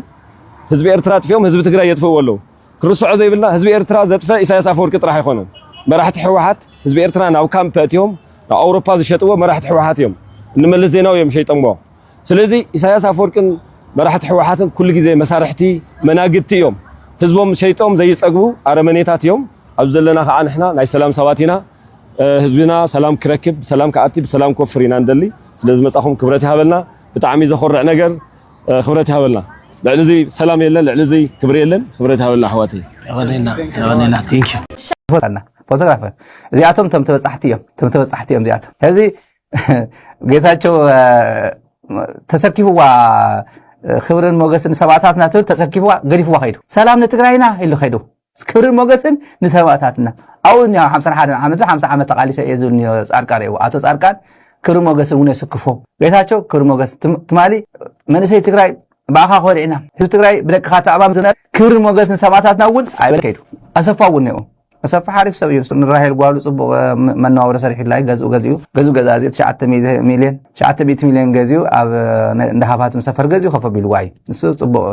ህዝቢ ኤርትራ ኣጥፊኦም ህዝቢ ትግራይ የጥፍእዎ ኣለዉ። ክንርስዖ ዘይብልና ህዝቢ ኤርትራ ዘጥፈ ኢሳያስ ኣፈወርቂ ጥራሕ ኣይኮነን። መራሕቲ ሕወሓት ህዝቢ ኤርትራ ናብ ካምፕ ኣእትዮም ናብ ኣውሮፓ ዝሸጥዎ መራሕቲ ሕወሓት እዮም። ንመለስ ዜናዊ እዮም ሸይጠምዎ። ስለዚ ኢሳያስ ኣፈወርቂን መራሕቲ ህወሓትን ኩሉ ግዜ መሳርሕቲ መናግድቲ እዮም። ህዝቦም ሸይጦም ዘይጸግቡ ኣረመኔታት እዮም። ኣብዚ ዘለና ከዓ ንሕና ናይ ሰላም ሰባት ኢና። ህዝብና ሰላም ክረክብ ብሰላም ክኣቲ ብሰላም ክወፍር ኢና ንደሊ። ስለ ዝመጻኹም ክብረት ይሃበልና። ብጣዕሚ ዘኾርዕ ነገር ክብረት ይሃበልና። ልዕሊ እዚ ሰላም የለን፣ ልዕሊ እዚ ክብሪ የለን። ክብረት ይሃበልና ኣሕዋተይ። የቐኔልና የቐኔልና ቴንኪዩ። ፎቶግራፈር እዚኣቶም ቶም ተበፃሕቲ እዮም ቶም ተበፃሕቲ እዮም እዚኣቶም ሕዚ ጌታቸው ተሰኪፍዋ ክብርን ሞገስን ሰማእታትና ትብል ተሰኪፍዋ ገዲፍዋ ከይዱ ሰላም ንትግራይና ኢሉ ከይዱ ክብርን ሞገስን ንሰማእታትና ኣብኡ እኒኣ ሓምሳን ሓደን ዓመት ሓምሳ ዓመት ተቓሊሰ እየ ዝብል እኒኦ ፃድቃን እየዎ ኣቶ ፃድቃን ክብሪ ሞገስን እውን የስክፎ ጌታቸው ክብሪ ሞገስ ትማሊ መንእሰይ ትግራይ ብኣኻ ኮሪዕና ህዝቢ ትግራይ ብደቅኻ ተኣማም ዝነበረ ክብሪ ሞገስን ሰማእታትና እውን ኣይበለ ከይዱ ኣሰፋ እውን እኒኦ ኣሰፋ ሓሪፍ ሰብ እዩ ንራሄል ጓሉ ፅቡቅ መነባብሮ ሰሪሕላይ ገዝኡ ገዚኡ ገዙ ገዛ እዚ ትሽዓተ ሚልዮን ትሽዓተ ሚእቲ ሚልዮን ገዚኡ ኣብ እንዳ ሃፋትም ሰፈር ገዚኡ ከፍ ኣቢልዋ እዩ ንሱ ፅቡቅ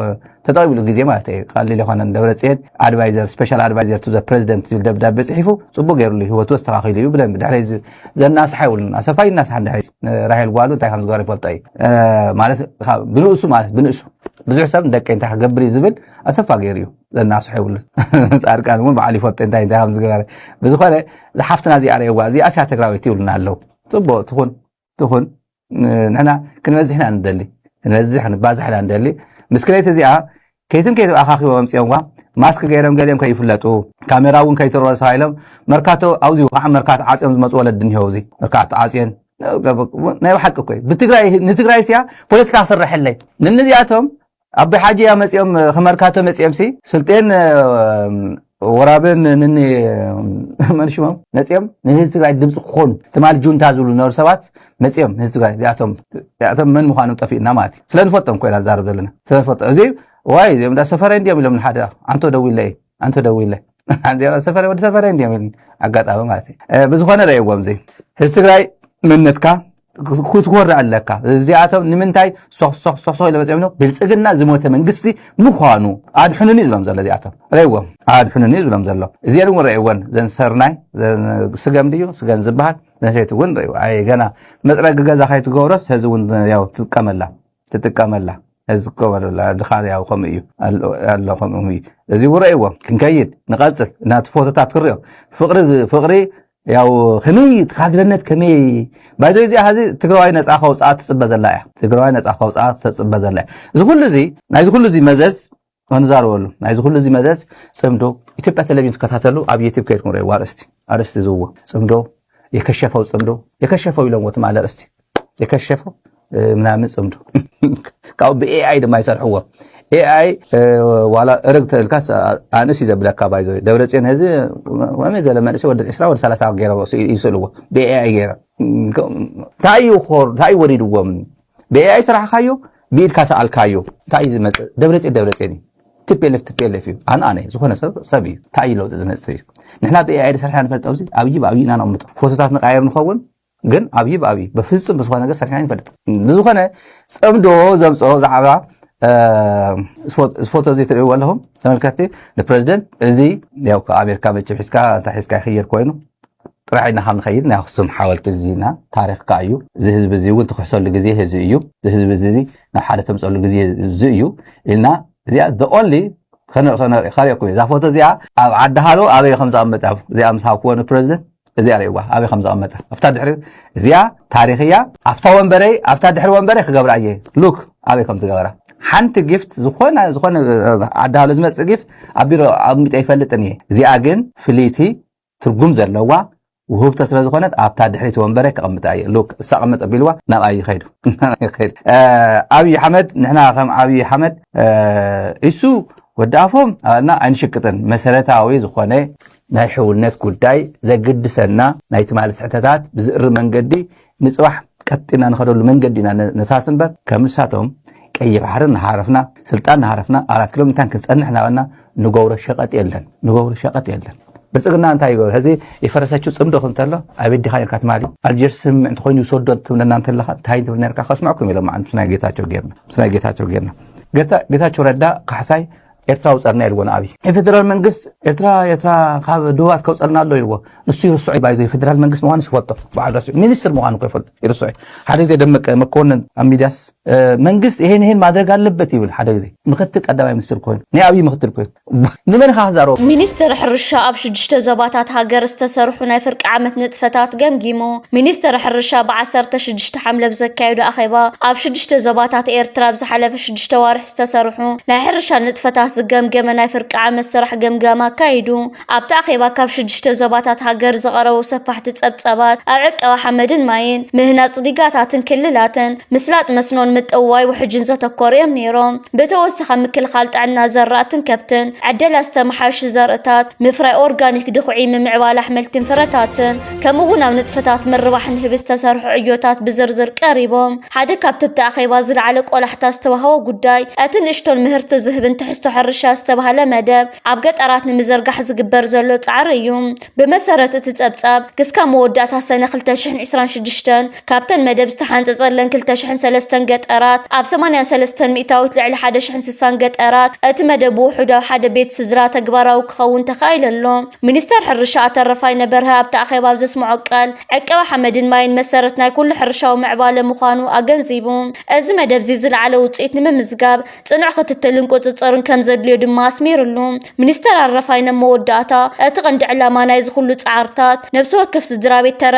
ተጠቂብሉ ግዜ ማለት እዩ ቀሊል ይኮነን ደብረፅየን ኣድቫይዘር ስፔሻል ኣድቫይዘር ቱ ዘ ፕሬዚደንት ዝብል ደብዳቤ ፅሒፉ ፅቡቅ ገይሩሉ ህይወቱ ኣስተካኪሉ እዩ ብደንብ ድሕሪ ዘናስሓ ይብሉን ኣሰፋ ይናስሓ ድሕሪ ራሄል ጓሉ እንታይ ከም ዝገበረ ይፈልጦ እዩ ማለት ብንእሱ ማለት ብንእሱ ብዙሕ ሰብ ንደቀ እንታይ ክገብር እዩ ዝብል ኣሰፋ ገይሩ እዩ ዘናፍስሖ የብሉን ፃድቃን እውን በዓል ይፈልጦ እንታይ እንታይ ከምዝገበረ ብዝኾነ ዝሓፍትና እዚኣ ረየዋ እዚኣ ስያ ትግራዊት ይብሉና ኣለው ፅቡቅ ትኹን ትኹን ንሕና ክንበዝሕ ኢና ንደሊ ክንበዝሕ ክንባዝሕ ኢና ንደሊ ምስክለይት እዚኣ ከይትን ከይት ኣኻኺቦ መምፅኦምዋ ማስክ ገይሮም ገሊኦም ከይፍለጡ ካሜራ እውን ከይትርኦ ተባሂሎም መርካቶ ኣብዚኡ ከዓ መርካቶ ዓፅዮም ዝመፁ ወለዲ እኒሄው እዚ መርካቶ ዓፅየን ናይ ባሓቂ እኮ እዩ ንትግራይ ስያ ፖለቲካ ክስርሐለይ ንንዚኣቶም ኣቢ ሓጂ እያ መጺኦም ክመርካቶ መጺኦምሲ ስልጤን ወራብን ንኒ መንሽሞም መፂኦም ንህዝቢ ትግራይ ድምፂ ክኾኑ ትማል ጁንታ ዝብሉ ዝነበሩ ሰባት መፂኦም ንህዝቢ ትግራይ እዚኣቶም መን ምዃኖም ጠፊእና ማለት እዩ ስለ ንፈልጦም ኮይና ንዛረብ ዘለና ስለ ንፈልጦም እዚ ዋይ እዚኦም እንዳ ሰፈረ እንዲኦም ኢሎም ንሓደ ኣንቶ ደው ኢለ እዩ ኣንተ ደዊለ ሰፈረ ወዲ ሰፈረ እንዲዮም ኢሉኒ ኣጋጣሚ ማለት እዩ ብዝኾነ ረእዎም እዚ ህዝቢ ትግራይ መንነትካ ክትኮርዕ ኣለካ እዚኣቶም ንምንታይ ሶክሶክሶክሶ ኢለ መፅኦም ኢሎም ብልፅግና ዝሞተ መንግስቲ ምዃኑ ኣድሕኑኒ እዩ ዝብሎም ዘሎ እዚኣቶም ረእዎም ኣድሕኑኒ እዩ ዝብሎም ዘሎ እዚኤን እውን ረእወን ዘን ሰርናይ ስገም ድዩ ስገም ዝበሃል ነሰይቲ እውን ረእዎ ኣይ ገና መፅረጊ ገዛ ከይትገብሮስ ህዚ እውን ትጥቀመላ ትጥቀመላ ዝገበረላ ድኻ ያው ከምኡ እዩ ኣሎ ከምኡ እዩ እዚ ውረእዎ ክንከይድ ንቐፅል ናቲ ፎቶታት ክሪኦ ፍቅሪ ፍቅሪ ያው ከመይ ትካድረነት ከመይ ባይዶ እዚኣ ሀዚ ትግራዋይ ነፃ ከውፅኣ ትፅበ ዘላ እያ ትግራዋይ ነፃ ከውፅኣ ተፅበ ዘላ እያ እዚ ኩሉ እዚ ናይዚ ኩሉ እዚ መዘዝ ክንዛረበሉ ናይዚ ኩሉ እዚ መዘዝ ጽምዶ ኢትዮጵያ ቴሌቪዥን ትከታተሉ ኣብ ዩቲብ ከይድኩም ረእይዎ ኣርእስቲ ኣርእስቲ ዝዎ ጽምዶ የከሸፈው ጽምዶ የከሸፈው ኢሎምዎ ትማሊ ኣርእስቲ የከሸፈው ምናምን ጽምዶ ካብኡ ብኤኣይ ድማ ይሰርሕዎ ኤኣይ ዋላ እርግ ተልካስ ኣንእስ እዩ ዘብለካ ባይዞ ደብረፅዮን ህዚ ከመይ ዘለ መንእሰይ ወዲ ዕስራ ወዲ ሰላሳ ገይረ ይስእልዎ ብኤኣይ ገይረ እንታይ እዩ ወሪድዎም ብኤኣይ ስራሕካዮ ብኢድካ ሰኣልካዮ እንታይ እዩ ዝመፅእ ደብረፅዮን ደብረፅዮን እዩ ትፔለፍ ትፔለፍ እዩ ኣነ ኣነ ዝኾነ ሰብ ሰብ እዩ እንታይ እዩ ለውጢ ዝመፅእ እዩ ንሕና ብኤኣይ ዝሰርሐ ንፈልጥ ኣብዚ ኣብይ ብኣብይ ኢና ነቕምጦ ፎቶታት ንቃየር ንኸውን ግን ኣብይ ብኣብይ በፍፁም ብዝኾነ ነገር ሰርሕና ይንፈልጥ ብዝኾነ ፅምዶ ዘምፅኦ ዛዕባ ዝፎቶ እዚ ትርእይዎ ኣለኹም ተመልከትቲ ንፕረዚደንት እዚ ያው ኣሜሪካ መቸም ሒዝካ እንታይ ሒዝካ ይኽየድ ኮይኑ ጥራሕ ኢልና ካብ ንኸይድ ናይ ኣኽሱም ሓወልቲ እዚ ና ታሪኽ ከኣ እዩ እዚ ህዝቢ እዚ እውን ትክሕሰሉ ግዜ ህዚ እዩ እዚ ህዝቢ እዚ ናብ ሓደ ተምፀሉ ግዜ እዚ እዩ ኢልና እዚኣ the only ከሪኦኩም እዛ ፎቶ እዚኣ ኣብ ዓዲ ሃሎ ኣበይ ከም ዝቐመጠ እዚኣ ምስ ሃብክዎ ንፕረዚደንት እዚኣ ርእዋ ኣበይ ከም ዝቐመጠ ኣብታ ድሕሪ እዚኣ ታሪክ እያ ኣብታ ወንበረይ ኣብታ ድሕሪ ወንበረይ ክገብራ እየ ሉክ ኣበይ ከም ዝገበራ ሓንቲ ጊፍት ዝኾነ ዝኾነ ዓዲ ሃሎ ዝመፅእ ጊፍት ኣብ ቢሮ ኣቕሚጠ ይፈልጥን እየ እዚኣ ግን ፍልይቲ ትርጉም ዘለዋ ውህብቶ ስለ ዝኾነት ኣብታ ድሕሪት ወንበረ ከቐምጣ እየ ሉክ እሳ ቀመጥ ኣቢልዋ ናብኣ ይኸይዱ ኣብዪ ሓመድ ንሕና ከም ኣብዪ ሓመድ እሱ ወዲ ኣፎም ኣባልና ኣይንሽቅጥን መሰረታዊ ዝኾነ ናይ ሕውነት ጉዳይ ዘግድሰና ናይ ትማሊ ስሕተታት ብዝእሪ መንገዲ ንፅባሕ ቀጥጢና ንኸደሉ መንገዲ ኢና ነሳሲ እምበር ከም ንሳቶም ቀይሕ ባሕሪ እናሃረፍና ስልጣን እናሃረፍና ኣራት ኪሎ ምታን ክንፀንሕ እናበልና ንገብሮ ሸቐጥ የለን ንገብሮ ሸቐጥ የለን ብልፅግና እንታይ ይገብር ሕዚ የፈረሰችው ፅምዶ ክም ተሎ ኣቤት ዲኻ ነርካ ትማሊ ኣልጀርስ ስምምዕ እንተኮይኑ ይውሰዶ ትብለና እንተለካ እንታይ ትብል ነርካ ከስምዐኩም ኢሎም ምስ ናይ ጌታቸው ጌርና ምስ ናይ ጌታቸው ጌርና ጌታቸው ረዳ ካሕሳይ ኤርትራዊ ጸርና ኢልዎ ንኣብይ ናይ ፌደራል መንግስት ኤርትራ ኤርትራ ካብ ድሁባት ከውጸልና ኣሎ ኢልዎ ንሱ ይርስዑ ባይዞ ፌደራል መንግስት ምዃኑ ይፈልጦ በዓል ረሲዑ ሚኒስትር ምዃኑ እኮ ይፈልጦ ይርስዑ ሓደ ግዜ ደመቀ መኮንን ኣብ ሚዲያስ መንግስት ይሄን ይሄን ማድረግ ኣለበት ይብል ሓደ ግዜ ምክትል ቀዳማይ ሚኒስትር ኮይኑ ናይ ኣብይ ምክትል ኮይኑ ንመን ኢኻ ክዛረቦ ሚኒስትር ሕርሻ ኣብ ሽዱሽተ ዞባታት ሃገር ዝተሰርሑ ናይ ፍርቂ ዓመት ንጥፈታት ገምጊሙ ሚኒስትር ሕርሻ ብ16 ሓምለ ብዘካየዱ ኣኼባ ኣብ ሽዱሽተ ዞባታት ኤርትራ ኣብ ዝሓለፈ ሽዱሽተ ዋርሒ ዝተሰርሑ ናይ ሕርሻ ንጥፈታት ዝገምገመ ናይ ፍርቂ ዓመት ስራሕ ገምጋም ኣካይዱ። ኣብቲ ኣኼባ ካብ ሽዱሽተ ዞባታት ሃገር ዝቐረቡ ሰፋሕቲ ጸብጻባት ኣብ ዕቀባ ሓመድን ማይን፣ ምህናጽ ዲጋታትን ክልላትን፣ ምስላጥ መስኖን ምጥውዋይ ውሕጅን ዘተኮሩ እዮም ነይሮም። ብተወሳኺ ኣብ ምክልኻል ጥዕና ዘራእትን ከብትን፣ ዕደላ ዝተመሓየሹ ዘርእታት፣ ምፍራይ ኦርጋኒክ ድኹዒ፣ ምምዕባል ኣሕምልትን ፍረታትን፣ ከምኡ'ውን ኣብ ንጥፈታት ምርባሕ ንህቢ ዝተሰርሑ ዕዮታት ብዝርዝር ቀሪቦም። ሓደ ካብቲ ኣብቲ ኣኼባ ዝለዓለ ቆላሕታ ዝተዋህቦ ጉዳይ፣ እቲ ንእሽቶን ምህርቲ ዝህብን ትሕዝቶ ሕርሻ ዝተባህለ መደብ ኣብ ገጠራት ንምዝርጋሕ ዝግበር ዘሎ ጻዕሪ እዩ። ብመሰረት እቲ ጸብጻብ፣ ክስካብ መወዳእታ ሰነ ክልተ ሽሕን ዕስራን ሽዱሽተን፣ ካብተን መደብ ዝተሓንጸጸለን ክልተ ሽሕን ሰለስተን ገጠራት፣ ኣብ ሰማንያን ሰለስተን ሚእታዊት ልዕሊ ሓደ ሽሕን ስሳን ገጠራት፣ እቲ መደብ ብውሑድ ኣብ ሓደ ቤት ስድራ ተግባራዊ ክኸውን ተኻኢሉ ኣሎ። ሚኒስተር ሕርሻ ኣቶ ረፋይነ በርሀ ኣብቲ ኣኼባ ኣብ ዘስመዖ ቃል፣ ዕቀባ ሓመድን ማይን መሰረት ናይ ኩሉ ሕርሻዊ ምዕባለ ምዃኑ ኣገንዚቡ። እዚ መደብ'ዚ ዝለዓለ ውጽኢት ንምምዝጋብ፣ ጽኑዕ ክትትልን ቁጽጽርን ከም ዘድልዮ ድማ ኣስሚርሉ። ሚኒስተር ኣረፋይነ ኣብ መወዳእታ፣ እቲ ቀንዲ ዕላማ ናይዚ ኩሉ ጻዕርታት፣ ነብሲ ወከፍ ስድራቤት ተረብ፣